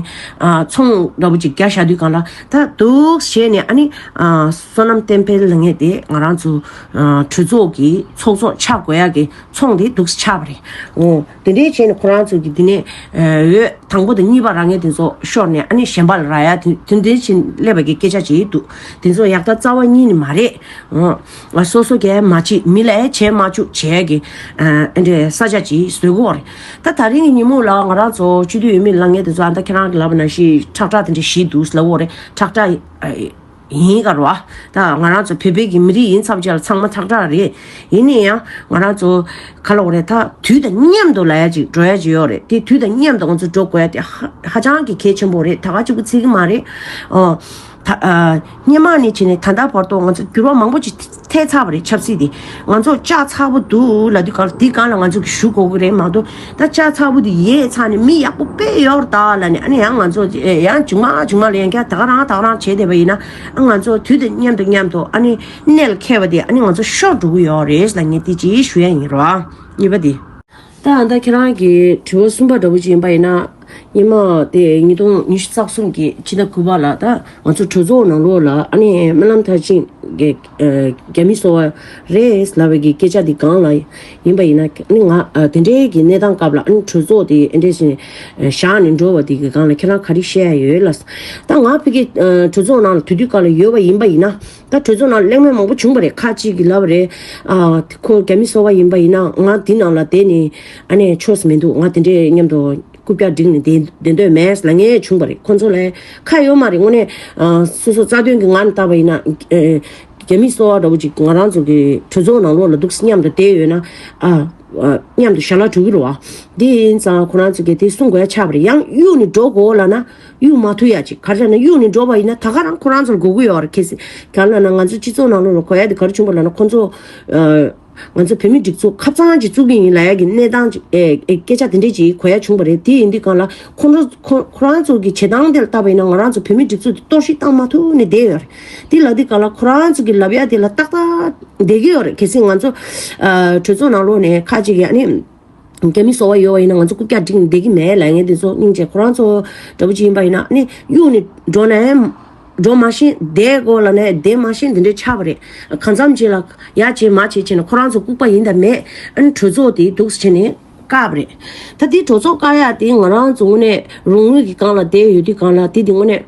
ཚོང་འདྲ་པོ་ཅིག་རྒྱག་བཞག་དུས་གང་ལ་ད་འདུག་ཞེས་ནས་ཨ་ནི་བསོད་ནམས་བསྟན་འཕེལ་ལ་ངེས་ཏེ་ང་རང་ཚོ་གྲོས་ཚོགས་ཀྱི་ཚོགས་གཙོ་ཆགས་དགོས་ཡག་གི་ཚོང་དེ་འདུག་ཆགས་པ་རེད། དེ་འདྲའི་བྱས་ནས་ཁོ་རང་ཚོས་དེ་ནས་འོད་དང་པོ་དང་གཉིས་པ་རང་ངེས་དེ་ཚོ་ཤོར་ནས་ཨ་ནི་གཞན་པ་ལ་ར་ཡ་དེ་འདྲའི་བྱིན་ཀླད་པ་གི་སྐད་ཆ་བྱེད་ཡི་འདུག་དེ་ཚོ་ཡག་ད་རྩ་བ་གཉིས་ནི་མ་རེད་ཨོ། སོ་སོ་གས་མ་བྱེད་མི་ལས་བྱས་མ་བཅུག་བྱས་གི་ཨ་འདྲའི་ས་ཆ་གྱི་ཟོལ་གོ་རེད་ད་ད་རིང་གི་ཉིན་མོ་ལ་ང་རང་ཚོ་སྤྱི་འཐུས་ཡོད་མི་ལ་ངས་དེ་ཚོ་ཨ་ད་ཁྱེད་རང་གི་ལབ་པ་ན་ཤི་ཁྲག་ཁྲག་དེ་འདྲའི་ཤི་འདུག་ཟླ་བོ་རེད་ཁྲག་ཁྲག། ཡིན་གར་བ། ད་ང་རང་ཚོ་བོད་པའི་གི་མི་རིགས་ཡིན་ཚབ་ཆ་ལ་ཚང་མ་ཐག་ཁྲག་རེད། ཡིན་ནས་ཡང་ང་རང་ཚོ་ག་ལོག་རེད་ད་དུས་དང་མཉམ་དུ་ལ་ཡ་ཅིག་འགྲོ་ཡ་ཅིག་ཡོག་རེད་དེ་དུས་དང་མཉམ་དུ་ང་ཚོ་འགྲོ་དགོས་ཡ་དེ་ཧཧ་ཅང་གི་གལ་ཆེན་པོ་རེད་ད་ག་ཅིག་པུ་ཚིག་གི་མ་རེད། ཨོ། ད་སྙན་མང་ནས་བྱས་ནས་ད་ལྟ་བར་དུ་ང་ཚོ་འགྱུར་བ་མང་པོ་ཅིག་ཐལ་ཚ་བ་རེད་ཆབ་སྲིད་དེ་ང་ཚོ་ལྕགས་ཚ་བོ་འདུག་ལ་དུས་གང་དུས་གང་ལ་ང་ཚོ་གིས་ཞུགས་དགོས་ཀྱི་རེད་མ་གཏོགས་ད་ལྕགས་ཚ་བོ་དེ་ཡས་ཚ་ནས་མི་ཡག་པོ་དཔེ་ཡོར་དག་ལ་ནས་ཨ་ནི་ཡང་ང་ཚོ་ཡང་ཇུག་མ་ཇུག་མ་ལ་ཡང་བསྐྱར་དག་རང་དག་རང་བྱེད་བསྡད་པ་ཡིན་ན་ཨ་ང་ཚོ་དུས་དང་མཉམ་དུ་མཉམ་དུ་ཨ་ནི་གནད་ལ་འཁེལ་བ་དེ་ཨ་ནི་ང་ཚོ་ཤོར་འགྲོ་གི་ཡོག་རེད་ལ་ངས་དེ་ཅིའི་ཞུ་ཡ་ཡིན་རོགས་ཨ་གཉིས་པ་དེ། ད་ཨ་མདའ་ཁྱེད་རང་གི་དྲི་བ་གསུམ་པ་འདྲ་བོ་ཅིག་ཡིན་པ་ཡིན་ན། ཉིན་མ་དེ་ཉིས་སྟོང་ཉི་ཤུ་རྩ་གསུམ་གྱི་ཕྱི་ཟླ་དགུ་པ་ལ་ད་ང་ཚོ་གྲོས་ཚོགས་ནང་ལོགས་ལ་ཨ་ནེ་སྨོན་ལམ་མཐར་ཕྱིན་གྱི་རྒྱ་མི་གསོ་བ་རེད་ལབ་པའི་སྐད་ཆ་དེ་སྒང་ལ་ཡིན་པ་ཡིན་ན་ཨ་ནེ་ང་དེ་འདྲའི་གི་གནས་སྟངས་སྐབས་ལ་ཨ་ནེ་གྲོས་ཚོགས་དེ་ཨེ་འདྲས་ཟེར་ནས་བཞག་ནས་འགྲོ་བ་དེ་གི་སྒང་ལ་ཁྱེད་རང་ག་རེ་བཤད་ཡ་ཡོད་ལ། ད་ང་ཕི་གི་གྲོས་ཚོགས་ནང་ལ་དུས་དུས་སྐབས་ལ་ཡོད་པ་ཡིན་པ་ཡིན་ན། ད་གྲོས་ཚོགས་ནང་གླེང་མོལ་མང་པོ་བྱུང་པ་རེད་ཁག་ཅིག་གིས་ལབ་པ་རེད། ཁོང་རྒྱ་མི་གསོ་བ་ཡིན་པ་ཡིན་ན་ང་འདི་ནང་ལ་བསྡད་ནས་ཨ་ནེ choice མི་འདུག་ང་དེ་འདྲའི་མཉམ་དུ་རྐུབ་བཀྱག་སྒྲིག་ནས་བསྡད་འདོད་མེད་ལ་ངས་བྱུང་པ་རེད་ཁོང་ཚོ་ལ་ཁག་ཡོད་མ་རེད་དངོས་གནས་སོ་སོ་རྩ་དོན་གྱི་ངང་ནས་བཏགས་པ་ཡིན་ན་རྒྱ་མི་གསོ་བ་འདྲ་བོ་ཅིག་ང་རང་ཚོ་གི་གྲོས་ཚོགས་ནང་ལོགས་ལ་འདུག་མཉམ་དུ་བསྡད་ཡོད་ན་མཉམ་དུ་ཞར་ལ་འགྲོ་གི་རེད་བ། དེ་ཡིན་ཙང་ཁོ་རང་ཚོ་གིས་དེ་གསུང་དགོས་ཆགས་པ་རེད་ཡང་གཡུག་ནས་འགྲོ་དགོས་ལ་ན། གཡུག་མ་ཐུབ་ཡ་ཅིག་ག་རེ་བྱ་ན་གཡུག་ནས་འགྲོ་བ་ཡིན་ན་ད་ག་རང་ཁོ་རང་ཚོར་དགོས་དགོས་ཡོད་རེད་ཁེལ་སྲིད་ག་ལ་ན་ང་ཚོ་སྤྱི་ཚོགས་ནང་ལོགས་ལ་གོ་ཡ་དེ་ག་རེ་བྱུང་བ་ལ་ན་ཁོ་ཚོ་ང་ཚོ་བོད་མི་སྒྲིག་འཛུགས་ཁ་ཚང་གཅིག་བཙུགས་ཀྱི་ཡིན་ལ་ཡ་གི་གནས་སྟངས་སྐད་ཆ་དེ་འདྲས་ཅིག་གོ་ཡ་བྱུང་བ་རེད་དེ་ཡིན་དུས་གང་ལ་ཁོ་རང་ཚོ་གི་བྱེད་སྟངས་དེ་ལ་བལྟ་བ་ཡིན་ན་ང་རང་ཚོ་བོད་མི་སྒྲིག་འཛུགས་དེ་གཏོར་བཤིག་བཏང་མ་ཐུབ་ནས་བསྡད་ཡོད་རེད་དེ་ལ་དེ་ག་ལ་ཁོ་རང་ཚོ་གི་ལབ་ཡ་དེ་ལ་ཏག་ཏག་བསྡད་ཀྱི་ཡོད་རེད་གལ་སྲིད་ང་ཚོ་གྲོས་ཚོགས་ནང་ལོགས་ནས་ཁ་ཅིག་ཡ་ནི་རྒྱ་མི་གསོ་བ་ཡོད་བ་ཡིན་ན་ང་ཚོ་རྐུབ་བཀྱག་སྒྲིག་ནས་བསྡད་ཀྱི་མེད་ལས་ངན་འདི་ཚོ་སྙིང་རྗེ་ཁོ་རང་ཚོ་འདྲ་པོ་ཅིག་ཡིན་པ་ཡིན་ན་ནི་གཡུག་ནས་འགྲོ་ནས་འགྲོ་མ་ཤེས་བསྡད་གོ་ལ་ནས་བསྡད་མ་ཤེས་འདི་འདྲའི་ཆགས་པ་རེད་གང་འཚམ་བྱས་ལ་ཡ་བྱས་མ་བྱས་བྱས་ནས་ཁོ་རང་ཚོ་ལྐུགས་པ་ཡིན་དང་མེད་ཨ་ནི་གྲོས་ཚོགས་དེ་སྡུག་ས་བྱས་ནས་སྐབས་རེད་ད་དེ་གྲོས་ཚོགས་བཀག་ཡ་དེ་ང་རང་ཚོ་དངོས་གནས་རང་ངོས་ཀྱི་སྒང་ལ་བསྡད་ཡོད་དུས་སྒང་ལ་དེ་དེ་དངོས་གནས།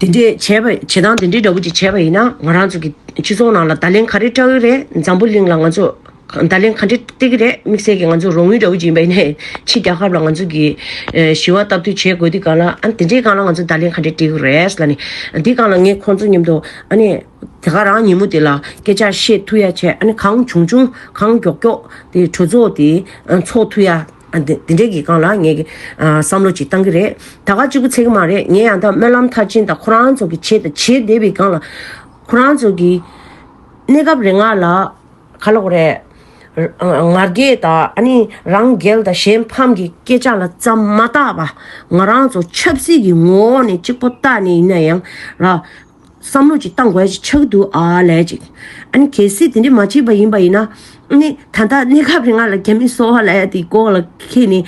དེ་འདྲའི་བྱས་པ་བྱེད་སྟངས་དེ་འདྲའི་འདྲ་པོ་ཅིག་བྱས་པ་ཡིན་ན་ང་རང་ཚོ་གི་སྤྱི་ཚོགས་ནང་ལ་བརྡ་ལན་ག་རེ་སྤྲད་འོས་རེད་འཛམ་བུ་གླིང་ལ་ང་ཚོ་བརྡ་ལན་ག་འདྲེ་སྤྲད་ཀྱི་རེད་དམིགས་བསལ་གྱི་ང་ཚོ་རོགས་དངུལ་འདྲ་པོ་ཅིག་ཡིན་པ་ཡིན་ན་ཕྱི་རྒྱལ་ཁབ་ལ་ང་ཚོ་གི་ཞི་བ་སྟབས་བསྟུན་བྱེད་དགོས་དུས་གང་ལ་ཨ་དེ་འདྲའི་སྒང་ལ་ང་ཚོ་བརྡ་ལན་ག་འདྲེ་སྤྲད་ཀྱི་རེད་ལ་ནི་འདི་སྒང་ལ་ངས་ཁོང་ཚོ་མཉམ་དུ་ཨ་ནི་དེ་ག་རང་ཉིན་མོ་དེ་ལ་སྐད་ཆ་བཤད་ཐུ་ཡ་བྱས་ཨ་ནི་གང་བྱུང་བྱུང་གང་མགྱོགས་མགྱོགས་དེ་གྲོས་ཚོགས་དེ་འཚོགས་ཐུ་ཡ། དེ་འདྲའི་གི་གང་ལ་ངས་བསམ་བློ་ཅིག་བཏང་གི་རེད་ད་ག་གཅིག་པུ་ཚེ་གི་མ་རེད་ངས་ཡང་དག་སྨོན་ལམ་མཐར་ཕྱིན་དང་ཁོ་རང་ཚོ་གི་བྱེད་བྱེད་བསྡད་པའི་གང་ལ་ཁོ་རང་ཚོ་གི་གནས་སྐབས་རེ་ང་ལ་ག་ལོག་རེད་ང་རྒྱལ་དང་ཨ་ནི་རང་རྒྱལ་དང་གཞན་ཕམ་གི་སྐད་ཆ་ལ་ཙམ་མ་བརྟག་པ་ང་རང་ཚོ་ཆབ་སྲིད་ཀྱི་ངོ་བོ་ནས་གཅིག་པོ་བརྟག་ནས་ཡིན་ན་ཡང་ར། བསམ་བློ་ཅིག་གཏང་དགོས་ཅིག་ཆགས་འདུག་ཨ་ལས་ཅིག། ཨ་ནི་གལ་སྲིད་དེ་འདྲས་མ་བྱས་པ་ཡིན་པ་ཡིན་ན། ནི་ད་ལྟ་གནས་སྐབས་རིང་ང་ལ་རྒྱ་མི་གསོ་བ་ལས་དེ་ལྐོག་ལ་ཁེལ་ནས།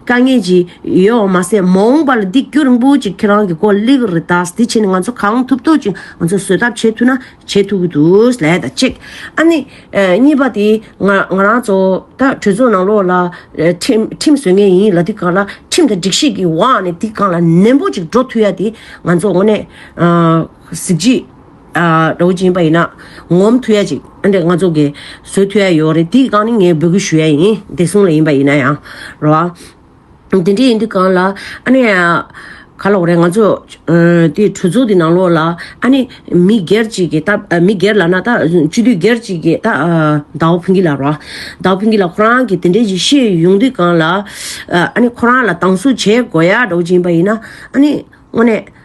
དཀའ་ངལ་ཅིག་ཡོད་བ་མ་ཟད་མ་འོངས་པ་ལ་འདི་སྐྱོ་རིང་པོ་ཅིག་ཁྱེད་རང་གི་སྐོར་གླེགས་རེ་བཏགས་ཟིན་དེ་བྱས་ནས་ང་ཚོ་གང་ཐུབ་ཐོག་ཅིག་ང་ཚོ་བཟོད་ཐབས་བྱེད་ཐུབ་ན་བྱེད་ཐུབ་ཀྱི་འདུག་ལས་དང་གཅིག་ཨ་ནི། གཉིས་པ་དེ། ང་རང་ཚོ་ད་གྲོས་ཚོགས་ནང་ལོགས་ལ་ཁྲིམས་བཟོས་ངེས་ཡིན་ལ་དེ་ག་ལ་ཁྲིམས་དང་སྒྲིག་གཞི་གི་འོག་ནས་དེ་གང་ལ་ནན་པོ་ཅིག་འགྲོ་ཐུབ་ཡ་དེ་ང་ཚོ་དངོས་གནས་གཟི་བརྗིད་ར་བོ་ཅན་ཡིན་པ་ཡིན་ན་ངོམ་ཐུབ་ཡ་ཅིག་ཨ་འདྲས་ང་ཚོ་གས་བཟོས་ཐུབ་ཡ་ཡོད་རེད་དེ་གང་ནི་ངས་འབོད་སྐུལ་ཞུ་ཡ་ཡིན་བདེ་སྲུང་ལ་ཡིན་པ་ཡིན་ན་ཡང་རེད་བ། དེ་འདྲ་ཡིན་དུས་གང་ལ་ཨ་ནེ། ག་ལོག་རེད་ང་ཚོ། དེ་གྲོས་ཚོགས་དེ་ནང་ལོགས་ལ་ཨ་ནེ། མི་སྒེར་གཅིག་གི་ད་མི་སྒེར་ལ་ན་ད་སྤྱི་འཐུས་སྒེར་གཅིག་གི་ད་ཟླ་བོ་ཕུན་སྐྱིད་ལ་རོགས། ཟླ་བོ་ཕུན་སྐྱིད་ལ་ཁོ་རང་གི་དེ་འདྲའི་ཞིག་ཤེས་ཡོང་དུས་གང་ལ། ཨ་ནེ་ཁོ་རང་ལ་སྡང་ཟུག་བྱེད་དགོས་ཡག་འགྲོ་གཅིག་ཡིན་པ་ཡིན་ན་ཨ་ནེ། དངོས་གནས།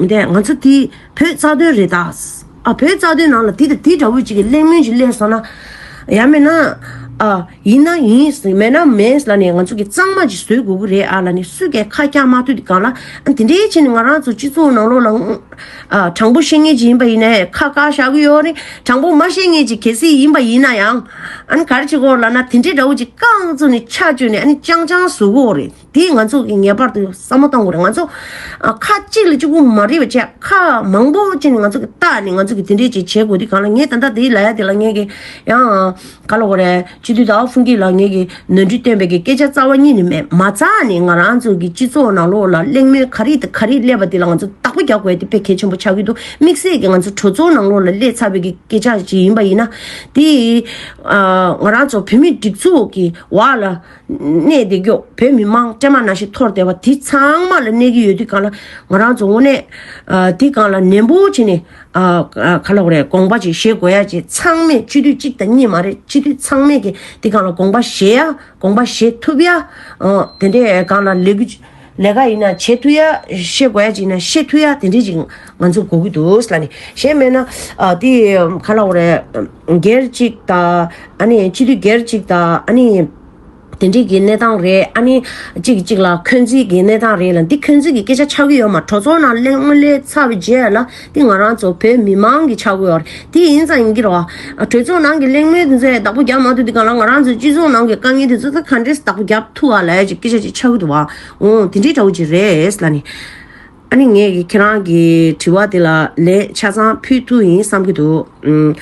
མི་འཐད་ང་ཚོ་དེ་བོད་རྩ་དོན་རེད་ད། ཨ་བོད་རྩ་དོན་ནང་ལ་དེ་དང་དེ་འདྲ་བོ་ཅིག་གི་གླེང་མོལ་ཞིག་གླེང་སོང་ན། ཡ་མེད་ན། ཨ། ཡིན་ན་ཡིན། མེད་ན་མེད་ལ་ནི་ང་ཚོ་གི་གཙང་མ་ཅིག་བཟོས་དགོས་གི་རེད་ཨ་ལ་ནི་སུས་ཀྱ་ཁ་བཀྱག་མ་ཐུབ་དེ་གང་ལ། ཨ་དེ་འདྲའི་ཕྱིར་ནི་ང་རང་ཚོ་སྤྱི་ཚོགས་ནང་ལོགས་ལ། ཨ། དྲང་པོ་ཤེས་ངེས་ཅིག་ཡིན་པ་ཡིན་ན་ཨེ། ཁ་བཀག་བཞག་གི་ཡོད་ནི་དྲང་པོ་མ་ཤེས་ངེས་ཅིག་གལ་སྲིད་ཡིན་པ་ཡིན་ན་ཡང། ཨ་ནི་ག་རེ་བྱེད་དགོས་ལ་ན་དེ་འདྲའི་འདྲ་བོ་ཅིག་ཀང་ཚོ་ནི་ཆ་བཅོས་ནི་ཨ་ནི་ཅང་ཅང་བཟོ་དགོས་རེད། དེས་ང་ཚོ་གིས་ངེས་པར་དུ་བསམ་བློ་གཏང་དགོས་རེད་ང་ཚོ། ཁ་གཅིག་ལ་གཅིག་པུ་མ་རེད་པ་བྱས་ཁ་མང་པོ་བཅིངས་ནས་ང་ཚོ་གིས་བལྟ་ནས་ང་ཚོ་གིས་དེ་འདྲའི་ཅིག་བྱེད་དགོས་དེ་གང་ལ་ངས་ད་ལྟ་དེའི་ལ་ཡ་དེ་ལ་ངས་ཀྱི་ཡང། ག་ལ་འོ་རེད་སྤྱི་འཐུས་ཏའོ་ཧྥུན་ཀྱིས་ལ་ངས་ཀྱི་ནོར་འཁྲུལ་བཏོན་པའི་གི་སྐད་ཆ་རྩ་བ་གཉིས་ནི་མེད་མ་རྩ་ནི་ང་རང་ཚོ་གི་སྤྱི་ཚོགས་ནང་ལོགས་ལ་གླེང་མོལ་ག་རེ་དང་ག་རེ་སླེབས་པ་དེ་ལ་ང་ཚོ་རྟག་པ་རྒྱག་དགོས་དེ་ཕལ་གལ་ཆེན་པོ་ཆགས་ཀྱི་འདུག་དམིགས་བསལ་གྱི་ང་ཚོ་གྲོས་ཚོགས་ནང་ལོགས་ལ་སླེབས་ཚར་བའི་གི་སྐད་ཆ་ཞིག་ཡིན་པ་ཡིན་ན། དེ། ང་རང་ཚོ་བོད་མིའི་སྒྲིག་འཛུགས་ཀྱི་བར་ལ། གནས་འདི་མགྱོགས་བོད་མི་མང་བཀྲེས་མ་ན་ཞིག་ཐོར་བསྡད་པ་དེ་ཚང་མ་ལ་གནས་ཀྱི་ཡོད་དུས་གང་ལ་ང་རང་ཚོ་དངོས་གནས་དེ་གང་ལ་ནན་པོ་བྱེད་ནས་ག་ལ་རེད་དགོངས་པ་ཅིག་བཞེས་དགོས་ཡ་ཅེས་ཚང་མས་སྤྱི་འཐུས་གཅིག་དང་གཉིས་མ་རེད་སྤྱི་འཐུས་ཚང་མས་ཀྱི་དེ་གང་ལ་དགོངས་པ་བཞེས་ཡ་དགོངས་པ་བཞེས་ཐུབ་ཡ་དེ་འདྲས་གང་ལ་ལས་གུ། ལས་ཀ་ཡིན་ན་བྱེད་ཐུ་ཡ་ཤེས་དགོས་ཡ་ཅིག་ཡིན་ན་ཤེས་ཐུ་ཡ་དེ་འདྲི་ཅིག་ང་ཚོ་གོ་གི་འདུག་ལ་ནི་གཞན་མེད་ན་དེ་ག་ལ་བ་རེད་སྒེར་གཅིག་དང་ཨ་ནི་སྤྱི་འཐུས་སྒེར་གཅིག་དང་ཨ་ནི་དེ་འདྲི་གི་གནས་སྟངས་རེད་ཨ་ནི་གཅིག་གི་གཅིག་ལ་འཁོན་འཛིན་གི་གནས་སྟངས་རེད་ལ་འདི་འཁོན་འཛིན་གི་སྐད་ཆ་ཆགས་ཀྱི་ཡོད་མ་གྲོ་ཚོགས་ནང་སླེ་དངོས་སླེ་ཚར་བའི་རྗེས་ལ་འདི་ང་རང་ཚོ་བོད་མི་མང་གི་ཆག་སྒོའོ། དེ་ཡིན་ཙང་ཡིན་གྱི་རོགས། གྲོས་ཚོགས་ནང་གི་གླེང་མོལ་དེ་ཚོའི་བདག་པོ་རྒྱབ་མ་ཐུབ་དེ་ག་ལ་ང་རང་ཚོའི་སྤྱི་ཚོགས་ནང་གི་དཀའ་ངལ་དེ་ཚོ་ད་ག་འདྲས་བདག་པོ་རྒྱབ་ཐུབ་བ་ལ་ཡ་ཅིག་སྐད་ཆ་ཅིག་ཆགས་ཀྱི་འདུག་བ། འོ་དེ་འདྲའི་འདྲ་བོ་ཅིག་རེད་ལ་ནི། ཨ་ནི་ངས་ཁྱེད་རང་གི་དྲི་བ་དེ་ལ་ལན་ཆ་ཚང་ཕུལ་ཐུབ་ཡིན་བསམ་གྱི་འདུག།